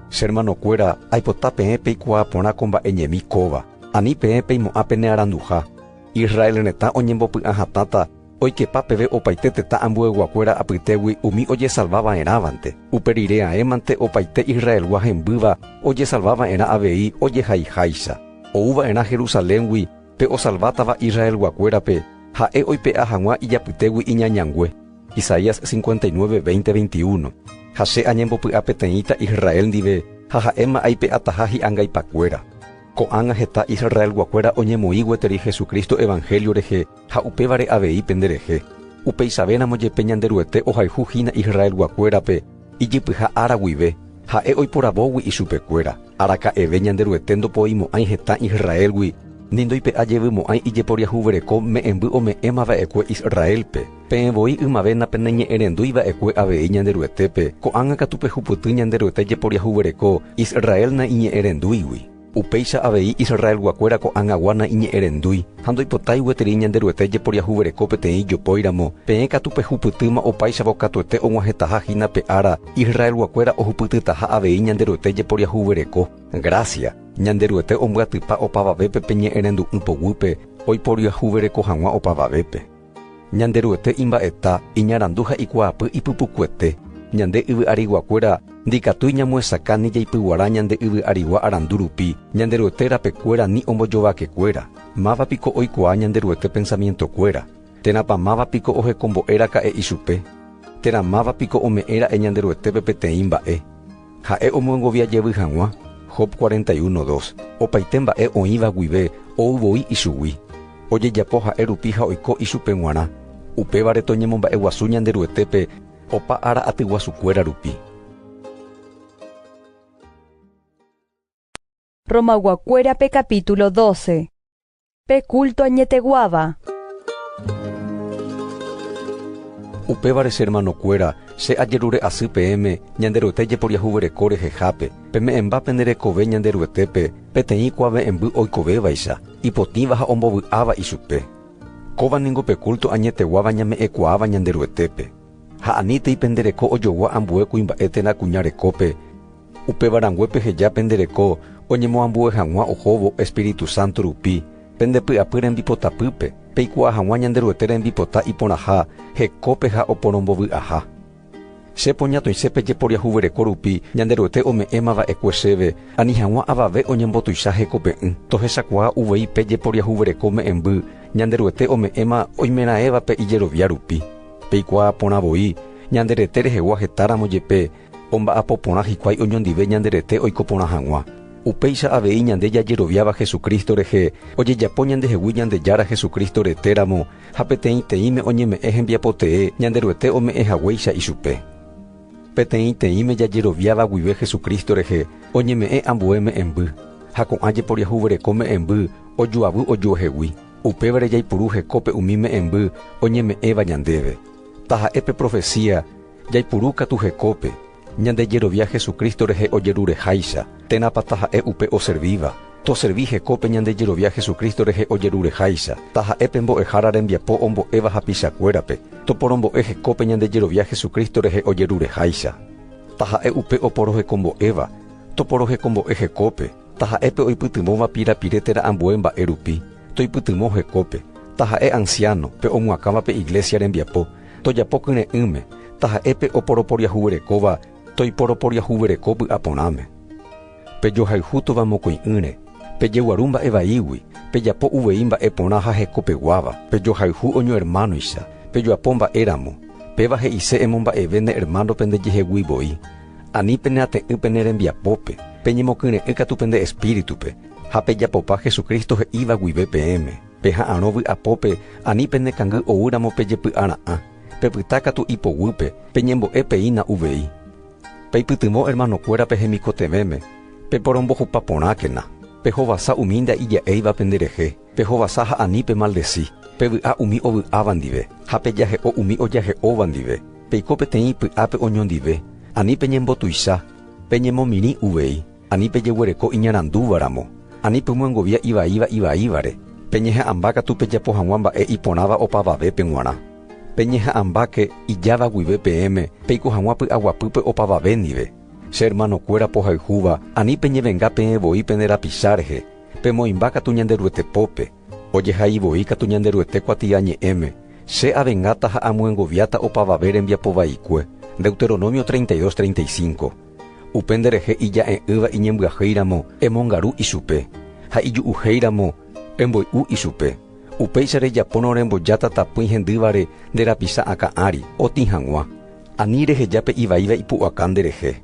Che hermanokuéra, aipota peẽ peikuaa porã ko mba'e ñemi kóva. Ani peẽ peimo'ã pene aranduha. Israel retã oñembopy'ã hatãta oikepa peve opaite tetã ambueyguakuéra apytégui umi ojesalva va'erãvante. Upe rire aẽmante opaite Israelgua hembýva ojesalva va'erã avei ojehaiháicha. Ou va'erã Jerusaléngui pe osalvátava Israelguakuérape, ha'e oipe'a hag̃ua ijapytégui iñañangue. Isaías 59, 20, 21, Ha Che añembopy'a peteĩta Israel ndive ha ha'éma aipe'ataha hi'angaipakuéra. Ko'ág̃a heta Israelguakuéra oñemoĩ gueteri Jesucristo evanhélio rehe ha upévare avei penderehe. Upeichavéramo jepe Ñanderuete ohayhu hína Israelguakuérape ijypyha ára guive, Ha'e oiporavógui ichupekuéra. Araka'eve Ñanderuete ndopoimo'ãi hetã Israélgui ni ndoipe'ajevymo'ãi ijeporiahuvereko me'ẽmby ome'ẽmava'ekue Israélpe. Peẽ voi ymave napeneñe'ẽrendúi va'ekue avei Ñanderuetépe, ko'ág̃a katu pehupyty Ñanderuete jeporiahuvereko Israel naiñe'ẽrendúigui. Upéicha avei Israelguakuéra ko'ág̃agua naiñe'ẽrendúi ha ndoipotái gueteri Ñanderuete jeporiahuvereko peteĩ ijopóiramo, peẽ katu pehupytýma opáichavo katuete og̃uahẽtaha hína pe ára Israelguakuéra ohupytytaha avei Ñanderuete jeporiahuvereko. Grásia, Ñanderuete ombyatypa opavavépe pe ñe'ẽrendu'ỹ poguýpe oiporiahuvereko hag̃ua opavavépe. Ñanderuete imba'eta, iñarandu ha ikuaapy ipypukuete, ñande yvy ariguakuéra ndikatúi ñamoesakã ni jaipyguara ñande yvy arigua arandu rupi, Ñanderuete rapekuéra ni ombojovakekuéra, máva piko oikuaa Ñanderuete pensamientokuéra? Térãpa máva piko ohekombo'e raka'e ichupe? Térã máva piko ome'ẽ ra'e Ñanderuetépe peteĩ mba'e? Ha'e omyongovia jevy hag̃ua, Job cuarenta y uno, dos, opaite mba'e oĩva guive ou voi ichugui. Ojejapo ha'e rupi ha oiko ichupe g̃uarã. Upévare toñemomba'eguasu Ñanderuetépe opa ára atyguasukuéra rupi. Romag̃uakuérape capítulo 12. Pe culto añeteguáva. Upévare che hermanokuéra, che ajerure asy peẽme Ñanderuete jeporiahuvereko rehehápe, peme'ẽmba pene rekove Ñanderuetépe peteĩ kuave'ẽmby oikovévaicha, ipotĩva ha ombovy'áva ichupe. Kóva ningo pe culto añeteguáva ñame'ẽkuaáva Ñanderuetépe. Ha anítei pende reko ojogua ambue kuimba'e térã kuña rekópe, Upéva rangue peheja pende reko oñemoambue hag̃ua ohóvo Espíritu Santo rupi, pende py'apy rembipotapýpe, peikuaa hag̃ua Ñanderuete rembipota iporãha hekópe ha oporombovy'aha. Che poñatoĩse pe jeporiahuvereko rupi Ñanderuete ome'ẽma va'ekue chéve, ani hag̃ua avave oñembotuicha hekope'ỹ. Tohechakuaa uvei pe jeporiahuvereko me'ẽmby Ñanderuete ome'ẽma oimeraẽvape ijerovia rupi. Peikuaa porã voi, ñande rete rehegua hetáramo jepe, Omba'apo porã hikuái oñondive ñande rete oiko porã hag̃ua. Upéicha avei ñande jajeroviáva Jesucristo rehe, ojejapo ñandehegui Ñandejára Jesucristo rete ramo ha peteĩteĩme oñeme'ẽ hembiapo tee Ñanderuete ome'ẽ haguéicha ichupe. Peteĩteĩme jajeroviáva guive Jesucristo rehe oñeme'ẽ ambue me'ẽmby, ha ko'ã jeporiahuvereko me'ẽmby ojoavy ojuehegui. Upévare jaipuru hekópe umi me'ẽmby oñeme'ẽva ñandéve, taha'e pe profesía, Jaipuru katu hekópe, ñande jerovia Jesucristo rehe ojerureháicha, térãpa taha'e upe oservíva? Toservi hekópe ñande jerovia Jesucristo rehe ojerureháicha, taha'e pe Mbo'ehára rembiapo ombo'éva hapichakuérape. Toporombo'e hekópe ñande jerovia Jesucristo rehe ojerureháicha, taha'e upe oporohekombo'éva. Toporohekombo'e hekópe, taha'e pe oipytyvõva pirapire térã ambue mba'e rupi. Toipytyvõ hekópe, taha'e ansiáno, pe omuakãva pe Iglésia rembiapo, tojapo kyre'ỹme, taha'e pe oporoporiahuverekóva toiporoporiahuvereko vy'a porãme. Pejohayhu tova mokõi'ỹre, pejeguaru mba'e vaígui, pejapo uvei mba'e porã ha hekopeguáva, pejohayhu oñoermánoicha, pejoapo mba'e ramo, péva he'ise emomba'eve ne ermáno pende jehegui voi, ani pene ate'ỹ pene rembiapópe, peñemokyre'ỹ katu pende espíritupe, Ha pejapopa Jesucristo he'íva guive peẽme, peha'arõ vy'apópe ani pene kangy oúramo pejepy'ara'ã, pepyta katu ipoguýpe, peñembo'e peína uvei. Peipytyvõ hermanokuéra pe hemikotevẽme, peporombohupa porãkena, pehovasa umi nda'ija'éiva penderehe, pehovasa ha ani pemaldesi, pevy'a umi ovy'áva ndive, ha pejahe'o umi ojahe'óva ndive, peiko peteĩ py'ápe oñondive, ani peñembotuicha, peñemomirĩ uvei. Ani pejeguereko iñarandúvaramo, ani pemyangovia ivaíva ivaívare, peñeha'ãmba katu pejapo hag̃ua mba'e iporãva opavavépe g̃uarã. Peñeha'ãmbáke ijáva guive peẽme peiko hag̃ua py'aguapýpe opavave ndive. Che ermanokuéra pohayhúva, ani peñevenga peẽ voi pene rapicha rehe, pemoĩmba katu Ñanderuete pópe, ojehai voi katu Ñanderuete kuatia ñe'ẽme, Che avengáta ha amyengoviáta opavave rembiapo vaikue. Deuteronomio treinta y dos, treinta y cinco. Upe nderehe ija'e'ỹva iñembyahéi ramo, emongaru ichupe, ha iju'uhéi ramo, emboy'u ichupe. Upéicha rejapórõ rembojáta tapỹi hendývare nde rapicha akã ári, otĩ hag̃ua. Ani reheja pe ivaíva ipu'aka nde rehe.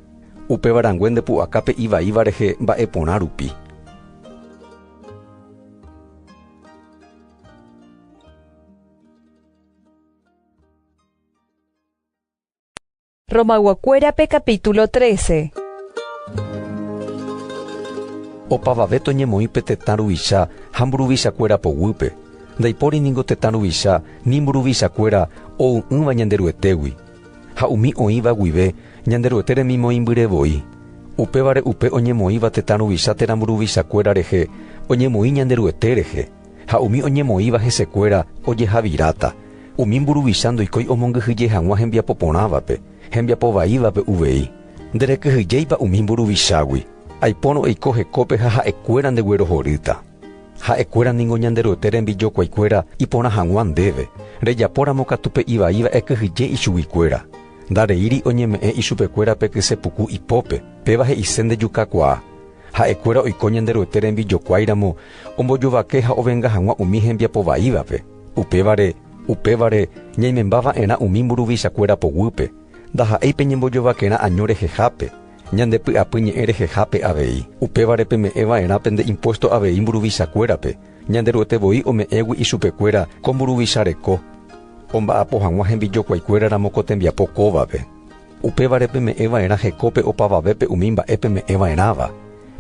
Upéva rangue nde pu'aka pe ivaíva rehe mba'e porã rupi. Romayguakuérape capítulo trece. Opavave toñemoĩ pe tetã ruvicha ha mburuvichakuéra poguýpe, ndaipóri ningo tetã ruvicha ni mburuvichakuéra ou'ỹva Ñanderuetégui, ha umi oĩva guive Ñanderuete remimoĩmbyre voi. Upévare upe oñemoĩva tetã ruvicha térã mburuvichakuéra rehe oñemoĩ Ñanderuete rehe. ha umi oñemoĩva hesekuéra ojehaviráta, umi mburuvicha ndoikói omongyhyje hag̃ua hembiapo porãvape, hembiapo vaívape uvei. Nderekyhyjéipa umi mburuvichágui, aipórõ eiko hekópe ha ha'ekuéra ndeguerohorýta. Ha'ekuéra ningo Ñanderuete rembijokuaikuéra iporã hag̃ua ndéve, rejapóramo katu pe ivaíva ekyhyje ichuguikuéra. Ndareíri oñeme'ẽ ichupekuéra pe kyse puku ipópe, péva he'ise ndejukakuaa. Ha'ekuéra oiko Ñanderuete rembijokuái ramo ombojovake ha ovenga hag̃ua umi hembiapo vaívape. Upévare, upévare ñaimemba va'erã umi mburuvichakuéra poguýpe, ndaha'éi pe ñembojovakerã año rehehápe, ñande py'apy ñe'ẽ rehehápe avei. Upévare peme'ẽ va'erã pende impuésto avei mburuvichakuérape, Ñanderuete voi ome'ẽgui ichupekuéra ko mburuvicha reko, omba'apo hag̃ua hembijokuaikuéra ramo ko tembiapo kóvape. Upévare peme'ẽ va'erã hekópe opavavépe umi mba'e peme'ẽ va'erãva.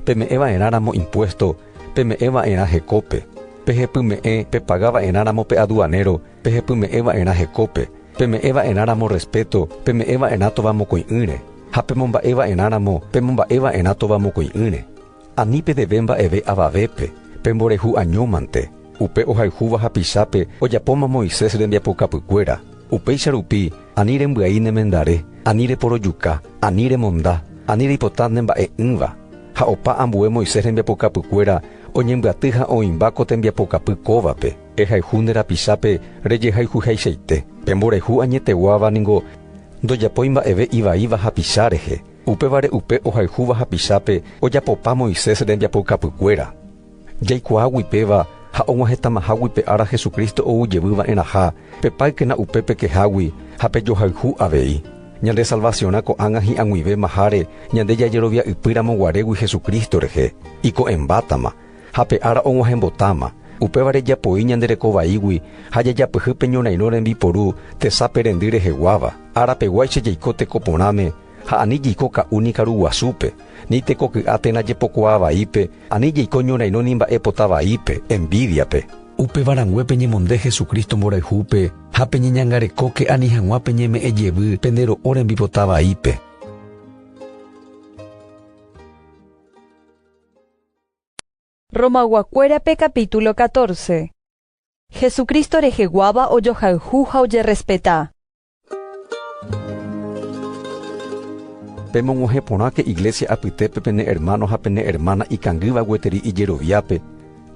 Peme'ẽ va'erãramo impuésto, peme'ẽ va'erã hekópe. Pehepyme'ẽ pepaga va'erãramo pe aduanéro, pehepyme'ẽ va'erã hekópe. Peme'ẽ va'erãramo respéto, peme'ẽ va'erã tovamokõi'ỹre. Ha pemomba'e va'erãramo, pemomba'e va'erã tovamokõi'ỹre. Ani pedeve mba'eve avavépe, pemborehu año mante, upe ohayhúva hapichápe ojapóma Moisés rembiapokapykuéra. Upéicha rupi, ani rembyai nemendare, ani reporojuka, ani remonda, ani reipota nemba'e'ỹva. Ha opa ambue Moisés rembiapokapykuéra oñembyaty ha oĩmba ko tembiapokapy kóvape. Ehayhu nde rapichápe rejehayhuhaichaite. Pemborehu añeteguáva ningo ndojapói mba'eve ivaíva hapicha rehe. Upévare upe ohayhúva hapichápe ojapopa Moisés rembiapoukapykuéra. Jaikuaágui péva ha og̃uahẽtamahágui pe ára Jesucristo ou jevy va'erãha, pepáykena upe pekehágui ha pejohayhu avei. Ñande salvasiõrã ko'ág̃a hi'ag̃uivémaháre ñande jajerovia'ypýramo guarégui Jesucristo rehe, iko'ẽmbátama. ha pe ára og̃uahẽmbotáma, upévare japoi ñande reko vaígui ha jajapyhy pe ñorairõ rembiporu tesape rendy reheguáva. Arapeguáicha jaiko teko porãme ha ani jaiko ka'u ni karu guasúpe, ni teko ky'a térã jepokuaa vaípe, ani jaiko ñorairõ ni mba'e pota vaípe, envídiape. Upéva rangue peñemonde Jesucristo mborayhúpe ha peñeñangarekóke ani hag̃ua peñeme'ẽ jevy pende ro'o rembipota vaípe. Romag̃uakuérape capítulo catorce. Jesucristo reheguáva ojohayhu ha ojerrespeta. Pemog̃uahẽ porãke iglésia apytépe pene ermáno ha pene ermána ikangýva gueteri ijeroviápe,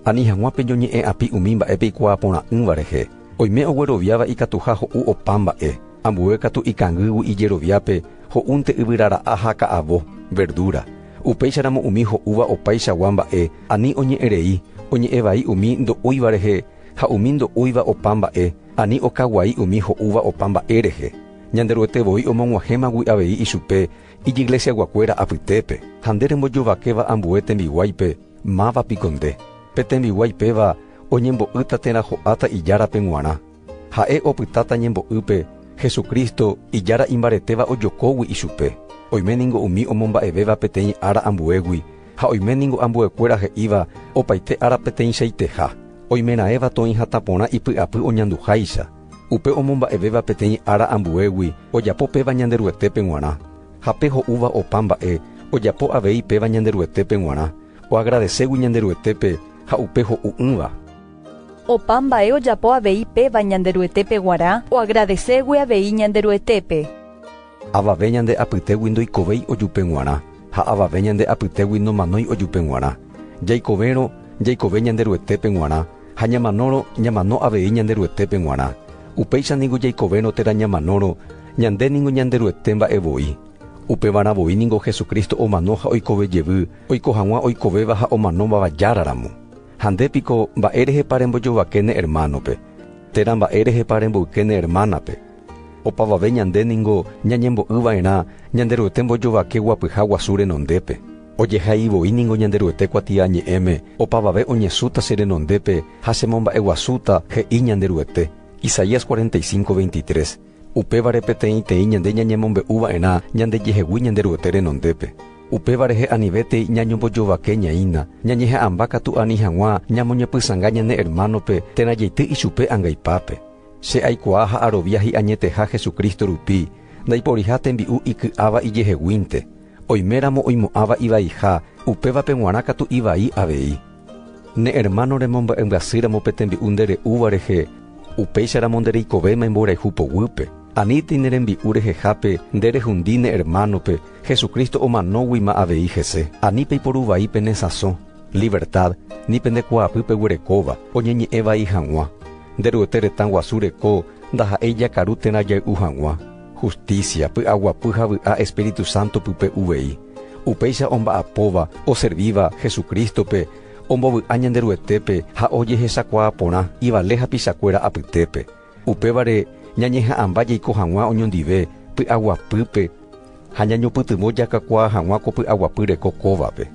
ani hag̃ua peñoñe'ẽ'api umi mba'e peikuaaporã'ỹva rehe. Oime ogueroviáva ikatuha ho'u opa mba'e. Ambue katu ikangýgui ijeroviápe ho'únte yvyrara'a ha ka'avo, verdura. Upéicharamo umi ho'úva opaichagua mba'e ani oñe'ẽ rei, oñe'ẽ vai umi ndo'úiva rehe ha umi ndo'úiva opa mba'e ani okaguai umi ho'úva opa mba'e rehe. Ñanderuete voi omog̃uahẽmagui avei ichupe ijyglesiaguakuéra apytépe. Ha nde rembojovakéva ambue tembiguáipe, máva piko nde? Pe tembiguái péva oñembo'ýta térã ho'áta Ijárape g̃uarã. Ha'e opytáta ñembo'ýpe Jesucristo Ijára imbaretéva ojokógui ichupe. Oime ningo umi omomba'evéva peteĩ ára ambuégui, ha oime ningo ambuekuéra he'íva opaite ára peteĩchaiteha. Oimeraẽva toĩ hatã porã ipy'apy oñanduháicha. Upe omomba'evéva peteĩ ára ambuégui ojapo péva Ñanderuetépe g̃uarã. Ha pe ho'úva opa mba'e ojapo avei péva Ñanderuetépe g̃uarã, oagradeségui Ñanderuetépe ha upe ho'u'ỹva. Opa mba'e ojapo avei péva Ñanderuetépe g̃uarã oagradeségue avei Ñanderuetépe. Avave ñande apytégui ndoikovéi ojupe g̃uarã ha avave ñande apytégui nomanói ojupe g̃uarã. Jaikovérõ, jaikove Ñanderuetépe g̃uarã, ha ñamanórõ, ñamano avei Ñanderuetépe g̃uarã. Upéicha ningo jaikovérõ térã ñamanórõ, ñande ningo Ñanderuete mba'e voi. Upevarã voi ningo Jesucristo omano ha oikove jevy, oiko hag̃ua oikovéva ha omanóvava Jára ramo. Ha nde piko, mba'e rehepa rembojovake ne ermánope? Térã mba'e rehepa remboyke ne ermánape? Opavave ñande ningo ñañembo'y va'erã Ñanderuete mbojovake guapyha guasu renondépe. Ojehai voi ningo Ñanderuete kuatiañe'ẽme, Opavave oñesũta che renondépe ha chemomba'eguasúta, he'i Ñanderuete. Isaías cuarenta y cinco, veintitrés. Upévare peteĩteĩ ñande ñañemombe'u va'erã ñandejehegui Ñanderuete renondépe. Upéva rehe anivétei ñañombojovakeñaína, ñañeha'ãmba katu ani hag̃ua ñamoñepysãnga ñane ermánope térã jeity ichupe angaipápe. Che aikuaa ha arovia hi'añeteha Jesucristo rupi, ndaiporiha tembi'u iky'áva ijeheguínte. Oiméramo oimo'ãva ivaiha, upévape g̃uarã katu ivai avei. Ne ermáno remomba'embyasýramo pe tembi'u nde re'úva rehe, upéicharamo nde reikovéma imborayhu poguýpe. Aníntei ne rembi'u rehehápe nde rehundi ne ermánope, Jesucristo omanóguima avei hese. Ani peiporu vai pene sãso, livertád, ni pende kuaapy peguerekóva, oñeñe'ẽ vai hag̃ua. Nde Ruete retã guasu reko ndaha'éi jakaru térã jay'u hag̃ua. Hustísia, py'aguapy ha vy'a Espíritu Santo pype uvei. Upéicha omba'apóva oservíva Jesucrístope ombovy'a Ñanderuetépe ha ojehechakuaa porã ivale hapichakuéra apytépe. Upévare ñañeha'ãmba jaiko hag̃ua oñondive py'aguapýpe ha ñañopytyvõ jakakuaa hag̃ua ko py'aguapy reko kóvape.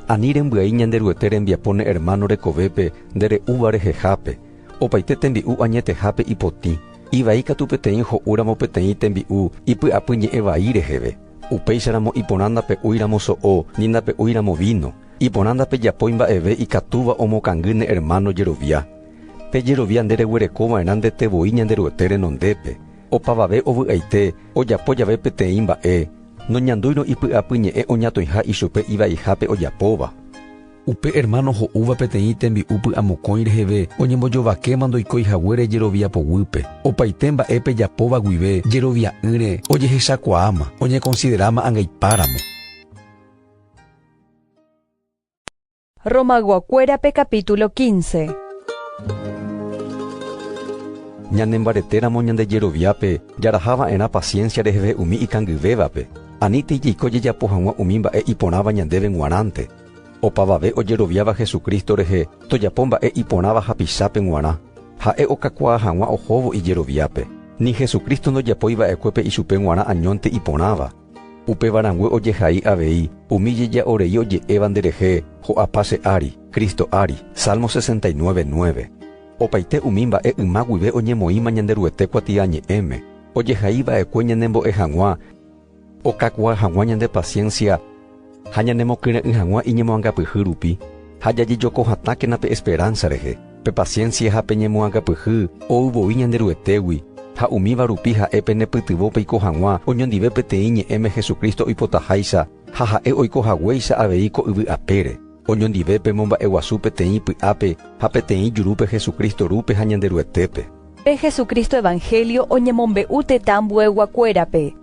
Ani rembyai Ñanderuete rembiapo ne ermáno rekovépe nde re'úva rehehápe, opaite tembi'u añetehápe ipotĩ, ivai katu peteĩ ho'úramo peteĩ tembi'u ipy'apy ñe'ẽ vai reheve. Upéicharamo iporã ndape'úiramo so'o, ni ndape'úiramo víno. Iporã ndapejapói mba'eve ikatúva omokangy ne ermáno jerovia. Pe jerovia nde reguereko va'erã ndete voi Ñanderuete renondépe. Opavave ovy'aite ojapo jave peteĩ mba'e, noñandúirõ ipy'apy ñe'ẽ oñatõiha ichupe ivaihápe ojapóva. Upe ermáno ho'úva peteĩ tembi'u py'amokõi reheve oñembojovakéma ndoikói haguére jerovia poguýpe. Opaite mba'e pejapóva guive jerovia'ỹre ojehechakuaáma, oñekonsideráma angaipáramo. Romag̃uakuérape capítulo quince. Ñanembaretéramo ñande jeroviápe jaraha va'erã paciencia reheve umi ikangyvévape. Ani tei jaiko jejapo hag̃ua umi mba'e iporãva ñandéve g̃uarãnte. Opavave ojeroviáva Jesucristo rehe tojapo mba'e iporãva hapichápe g̃uarã. Ha'e okakuaa hag̃ua ohóvo ijeroviápe. Ni Jesucristo ndojapói va'ekue pe ichupe g̃uarã añónte iporãva. Upéva rangue ojehai avei umi jeja'o rei oje'éva nde rehe, Ho'apa che ári, Cristo ári. Salmo 69, 9. Opaite umi mba'e yma guive oñemoĩma Ñanderuete kuatiañe'ẽme, ojehai va'ekue ñanembo'e hag̃ua. okakuaa hag̃ua ñande paciencia ha ñanemokyre'ỹ hag̃ua iñemoangapyhy rupi, ha jajejoko hatãkena pe esperanza rehe, pe paciencia ha pe ñemoangapyhy ou voi Ñanderuetégui, ha umíva rupi ha'e penepytyvõ peiko hag̃ua oñondive peteĩ ñe'ẽme Jesucristo oipotaháicha ha ha'e oiko haguéicha avei ko yvy apére, oñondive pemomba'eguasu peteĩ py'ápe ha peteĩ jurúpe Jesucristo rúpe ha Ñanderuetépe. Pe Jesucristo evangelio oñemombe'u tetã ambuegua kuérape.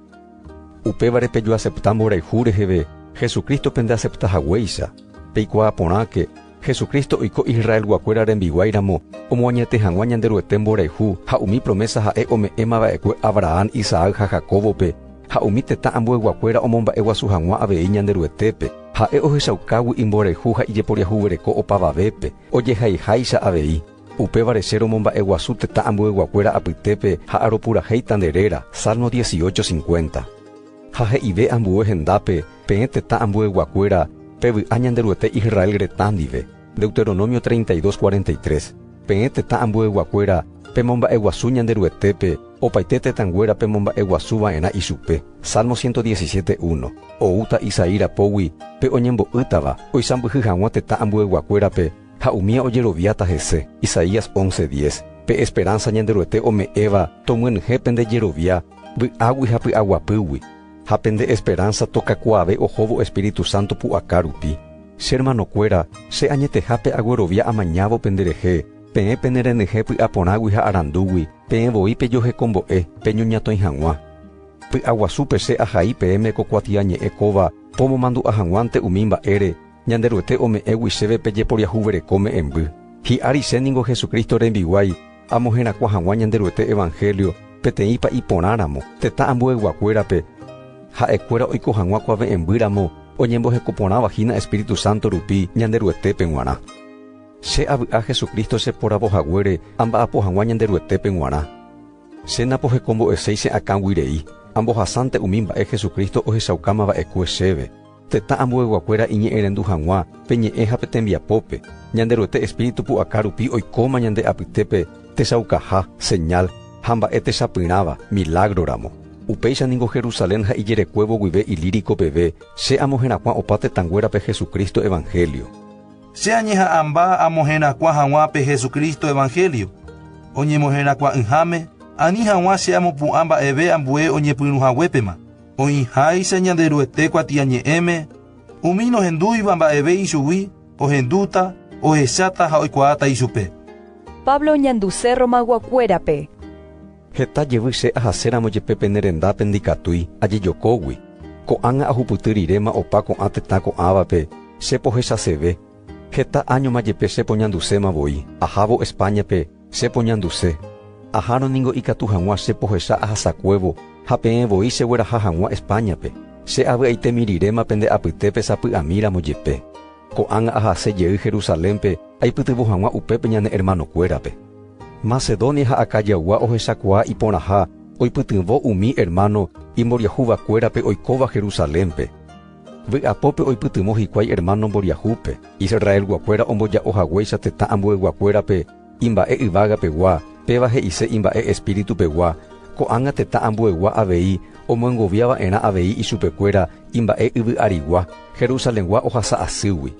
Upévare pejoasepta mborayhu reheve Jesucristo pende asepta haguéicha. Peikuaa porãke, Jesucristo oiko Israelgua kuéra rembiguái ramo omoañete hag̃ua Ñanderuete mborayhu ha umi promesa ha'e ome'ẽma va'ekue Abrahán, Isaac ha Jacóbope, ha umi tetã ambuegua kuéra omomba'e guasu hag̃ua avei Ñanderuetépe. Ha'e ohechaukágui imborayhu ha ijeporiahuvereko opavavépe, ojehaiháicha avei. Upévare che romomba'eguasu tetã ambueguakuéra apytépe ha aropurahéita nde réra, Salmo dieciocho cincuenta. Ha he'ive ambue hendápe peẽ tetã ambueguakuéra pe vy'a Ñanderuete Israel retã ndive, Deuteronomio treinta y dos cuarenta y tres, Peẽ tetã ambueguakuéra pemomba'eguasu Ñanderuetépe, opaite tetãnguéra pemomba'eguasu va'erã ichupe, Salmo ciento diecisiete uno. Oúta Isaí rapógui pe oñembo'ýtava oisãmbyhy hag̃ua tetã ambueguakuérape, Ha umíva ojeroviáta hese, Isaías once diez, pe esperánsa Ñanderuete ome'ẽva tomyenyhẽ pende jerovia vy'águi ha py'aguapýgui, ha pende esperánsa tokakuaave ohóvo espíritu sánto pu'aka rupi. Che ermanokuéra, che añetehápe aguerovia amañávo penderehe, peẽ penerenyhẽ py'a porãgui ha arandúgui, peẽ voi pejohekombo'e, peñoñatõi hag̃ua. Py'aguasúpe che ahai peẽme ko kuatiañe'ẽ kóva pomomandu'a hag̃uánte umi mba'ére, Ñanderuete ome'ẽgui chéve pe jeporiahuvereko me'ẽmby. Hi'ári che ningo Jesucristo rembiguái, amo herakuã hag̃ua Ñanderuete evanhélio peteĩpa iporãramo, tetã ambueyguakuérape, ha'ekuéra oiko hag̃ua kua ve'ẽmby ramo oñemboheko porãva hína Espíritu Santo rupi Ñanderuetépe g̃uarã. Che avy'a Jesucristo che poravo haguére amba'apo hag̃ua Ñanderuetépe g̃uarã. Che napohekombo'eséi che akãgui rei, ambohasánte umi mba'e Jesucristo ohechaukáma va'ekue chéve. Tetã ambueyguakuéra iñe'ẽrendu hag̃ua pe ñe'ẽ ha pe tembiapópe, Ñanderuete espíritu pu'aka rupi oikóma ñande apytépe techaukaha, señal, ha mba'e techapyrãva, milágroramo. Upéicha ningo Jerusalén ha ijerekuévo guive Ilírico peve che amo herakuã opa tetãnguérape Jesucristo evangelio. Che añeha'ãmba amo herakuã hag̃ua pe Jesucristo evangelio, oñemoherakuã'ỹháme, ani hag̃ua che amopu'ã mba'eve ambue oñepyrũhaguépema. Oĩháicha Ñanderuete kuatiañe'ẽme, umi nohendúiva mba'eve ichugui ohendúta, ohecháta ha oikuaáta ichupe. Pablo oñanduse Romaguakuérape. Heta jevy che ahaséramo jepe pene rendápe ndikatúi ajejokógui, ko'ág̃a ahupyty riréma opa ko'ã tetã ko'ãvape che pohechaseve, heta áñoma jepe che poñanduséma voi ahávo Espáñape, Che poñanduse, ahárõ ningo ikatu hag̃ua che pohecha ahasakuévo ha peẽ voi che gueraha hag̃ua España-pe, che avy'aite miriréma pende apytépe sapy'ami ramo jepe. Ko'ág̃a ahase jey Jerusalénpe aipytyvõ hag̃ua upépe ñane hermanokuérape. Macedonia ha Acayagua ohechakuaa iporãha oipytyvõ umi hermano imboriahuvakuérape oikóva Jerusalénpe. Vy'apópe oipytyvõ hikuái ermáno mboriahúpe, Israelguakuéra omboja'o haguéicha tetã ambueyguakuérape imba'e yvágapegua, péva he'ise imba'e espíritupegua, ko'ág̃a tetã ambuegua avei omyengovia va'erã avei ichupekuéra imba'e yvy'arigua, Jerusalengua ohasa asýgui.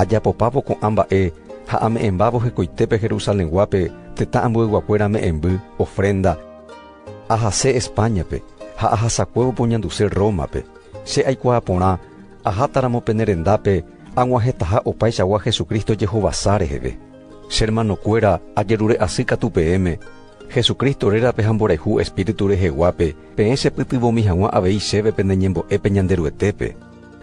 Ajapopávo ko'ã mba'e ha ame'ẽmbávo hekoitépe Jerusalenguápe tetã ambueyguakuéra me'ẽmby, ofrénda, Ahase España-pe ha ahasakuévo poñanduse Roma-pe. Che aikuaa porã, ahátaramo pene rendápe, ag̃uahẽtaha opaichagua Jesucristo jehovasa reheve. Che hermanokuéra, ajerure'asy katu peẽme, Jesucristo rérape ha mborayhu Espíritu reheguápe, peẽ chepytyvõmi hag̃ua avei chéve pene ñembo'épe Ñanderuetépe.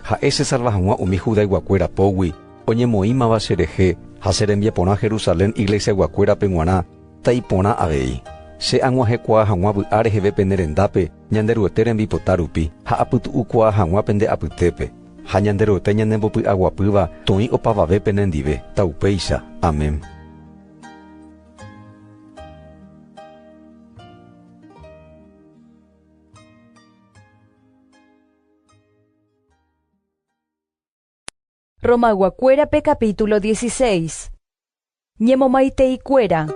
Ha'e chesalva hag̃ua umi Judayguakuéra pógui, oñemoĩmava cherehe, ha che rembiaporã Jerusalén iglesiaguakuérape g̃uarã, Ta iporã avei, che ag̃uahẽkuaa hag̃ua vy'a reheve pene rendápe Ñanderuete rembipota rupi ha apytu'ukuaa hag̃ua pende apytépe. Ha Ñanderuete ñanembopy'aguapýva toĩ opavave penendive. Ta upéicha. Amén. Romagua-kuérape capítulo dieciséis. Ñemomaiteikuéra.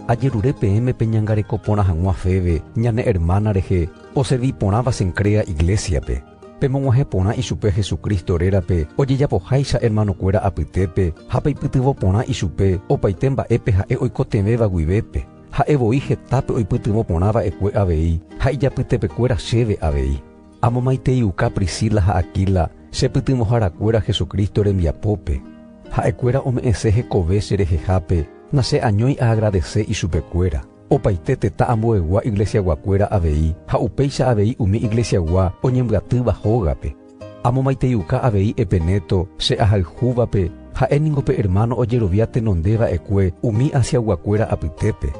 Ajerure peẽme peñangareko porã hag̃ua Febe, ñane ermána rehe, oservi porãva Cencrea iglésiape. Pemog̃uahẽ porã ichupe Jesucristo rérape ojejapoháicha ermanokuéra apytépe ha peipytyvõ porã ichupe opaite mba'épe ha'e oikotevẽva guivépe. Ha'e voi hetápe oipytyvõ porã va'ekue avei ha ijapytepekuéra chéve avei. Amomaiteiuka Priscila ha Aquila che pytyvõharakuéra Jesucristo rembiapópe. Ha'ekuéra ome'ẽse hekove che rehehápe, nache'añói aagradese ichupekuéra. Opaite tetã ambuegua iglesiaguakuéra avei ha upéicha avei umi iglesiagua oñembyatýva hógape. Amomaiteiuka avei Epeneto che ahayhúvape, ha'e ningo pe ermáno ojerovia tenonde va'ekue umi Asiaguakuéra apytépe.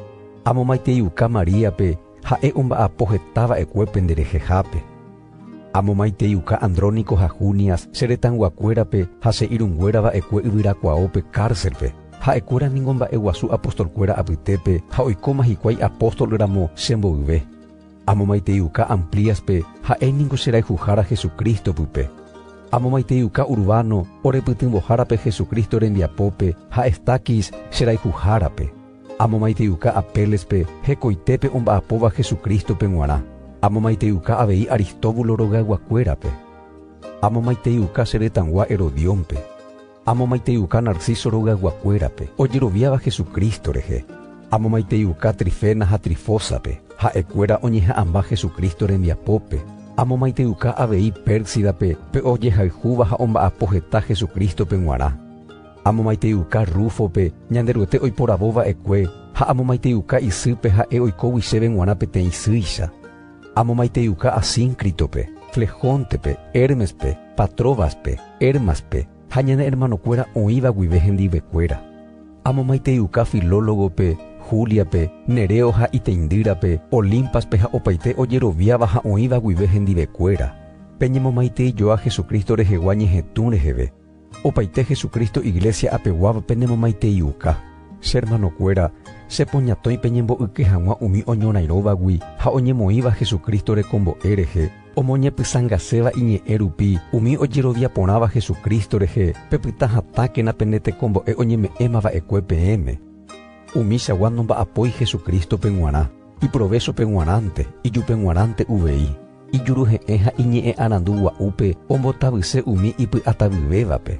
Amomaiteiuka Maríape, Ha'e omba'apo heta va'ekue pende rehehápe. Amomaiteiuka Andrónico ha Junias che retãyguakuérape ha che irũnguéra va'ekue yvyrakuaópe kárselpe. Ha'ekuéra ningo mba'e guasu apostolkuéra apytépe ha oikóma hikuái apóstol ramo che mboyve. Amomaiteiuka Amplíaspe, ha'e ningo che rayhuhára Jesucristo pype. Amomaiteiuka Urbano, orepytyvõhárape Jesucristo rembiapópe, ha Estaquis, che rayhuhárape. Amomaiteiuka Apélespe hekoitépe omba'apóva Jesucrístope g̃uarã. Amomaiteiuka avei Aristóbulo rogayguakuérape. Amomaiteiuka che retãgua Herodiónpe. Amomaiteiuka Narciso rogayguakuérape, ojeroviáva Jesucristo rehe. Amomaiteiuka Trifena ha Trifósape, ha'ekuéra oñeha'ãmba Jesucristo rembiapópe. Amomaiteiuka avei Pérsidape, pe ojehayhúva ha omba'apo heta Jesucrístope g̃uarã. Amomaiteiuka Rúfope, Ñanderuete oiporavo va'ekue, ha amomaiteiuka isýpe ha'e oikógui chéve g̃uarã peteĩ isýicha. Amomaiteiuka Asíncritope, Flejóntepe, Hérmespe, Patróbaspe, Hérmaspe, ha ñane ermanokuéra oĩva guive hendivekuéra. Amomaiteiuka Filólogope, Júliape, Neréo ha iteindýrape, Olímpaspe ha opaite ojeroviáva ha oĩva guive hendivekuéra. Peñemomaiteijoa Jesucristo rehegua ñehetũ reheve. Opaite Jesucristo iglesia apeguáva penemomaiteiuka. Che hermanokuéra, che poñatõi peñembo'yke hag̃ua umi oñorairõvagui ha oñemoĩva Jesucristo rekombo'e rehe, omoñepysãngaséva iñe'ẽ rupi umi ojerovia porãva Jesucristo rehe, pepyta hatãkena pene tekombo'e oñeme'ẽma va'ekue peẽme. Umichagua nomba'apói Jesucristo-pe g̃uarã, iprovéchope g̃uarãnte, ijupeg̃uarãnte uvei. ijuruhe'ẽ ha iñe'ẽ arandu gua'úpe ombotavyse umi ipy'atavyvévape.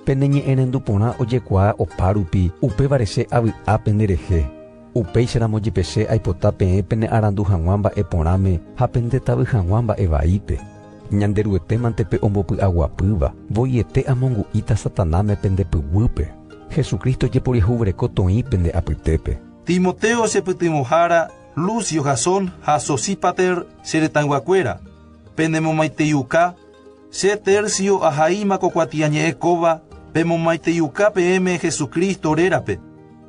Pene ñe'ẽrendu porã ojekuaa opárupi, upévare che avy'a penderehe. Upéicharamo jepe che aipota peẽ pene arandu hag̃ua mba'e porãme ha pendetavy hag̃ua mba'e vaípe. Ñanderuete mante pe ombopy'aguapýva, voiete amongu'íta Satanáme pende pyguýpe. Jesucristo jeporiahuvereko toĩ pende apytépe. Timoteo chepytyvõhára, Lucio, Jasón ha Sosípater che retãyguakuéra, penemomaiteiuka, che Tercio ahaíma ko kuatiañe'ẽ kóva pemomaiteiuka peẽme Jesucristo rérape,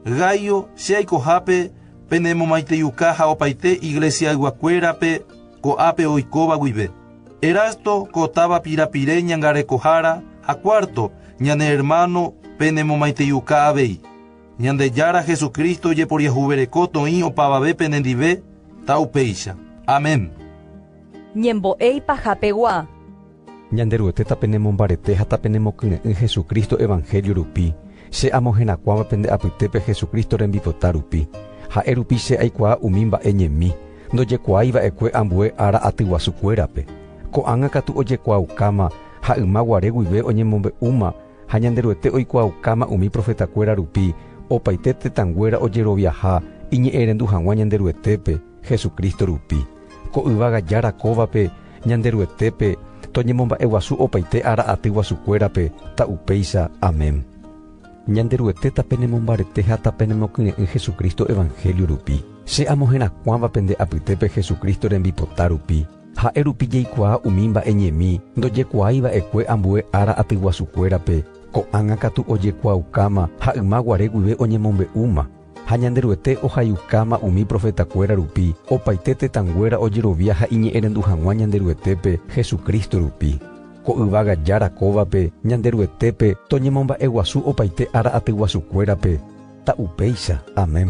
Gaio, che aikohápe, penemomaiteiuka ha opaite iglesiayguakuérape ko'ápe oikóva guive, Erasto ko táva pirapire ñangarekohára ha Cuarto, ñane ermáno, penemomaiteiuka avei. Ñandejára Jesucristo ojeporiahuvereko toĩ opavave penendive, ta upéicha. Amén. Ñembo'e ipahapegua. Ñanderuete tapenemombarete ha tapenemokyre'ỹ Jesucristo evangelio rupi, che amoherakuãva pende apytépe Jesucristo rembipota rupi. Ha'e rupi che aikuaa umi mba'e ñemi, ndojekuaái va'ekue ambue ára atyguasukuérape. Ko'ág̃a katu ojekuaaukáma ha yma guare guive oñemombe'úma, Ha Ñanderuete oikuaaukáma umi profetakuéra rupi opaite tetãnguéra ojeroviaha iñe'ẽrendu hag̃ua Ñanderuetépe, Jesucristo rupi. Ko yvága Jára kóvape, Ñanderuetépe, toñemomba'eguasu opaite ára aty guasukuérape, ta upéicha. Amén. Ñanderuete tapenemombarete ha tapenemokyre'ỹ Jesucristo evangelio rupi. Che amoherakuãva pende apytépe Jesucristo rembipota rupi. Ha'e rupi jaikuaa umi mba'e ñemi ndojekuaái va'ekue ambue ára atyguasukuérape, ko'ág̃a katu ojekuaaukáma ha yma guare guive oñemombe'úma. Ha Ñanderuete ohayhukáma umi profetakuéra rupi, opaite tetãnguéra ojerovia ha iñe'ẽrendu hag̃ua Ñanderuetépe Jesucristo rupi. Ko yvága Jára kóvape Ñanderuetépe toñemomba'eguasu opaite ára atyguasukuérape. Ta upéicha. Amén.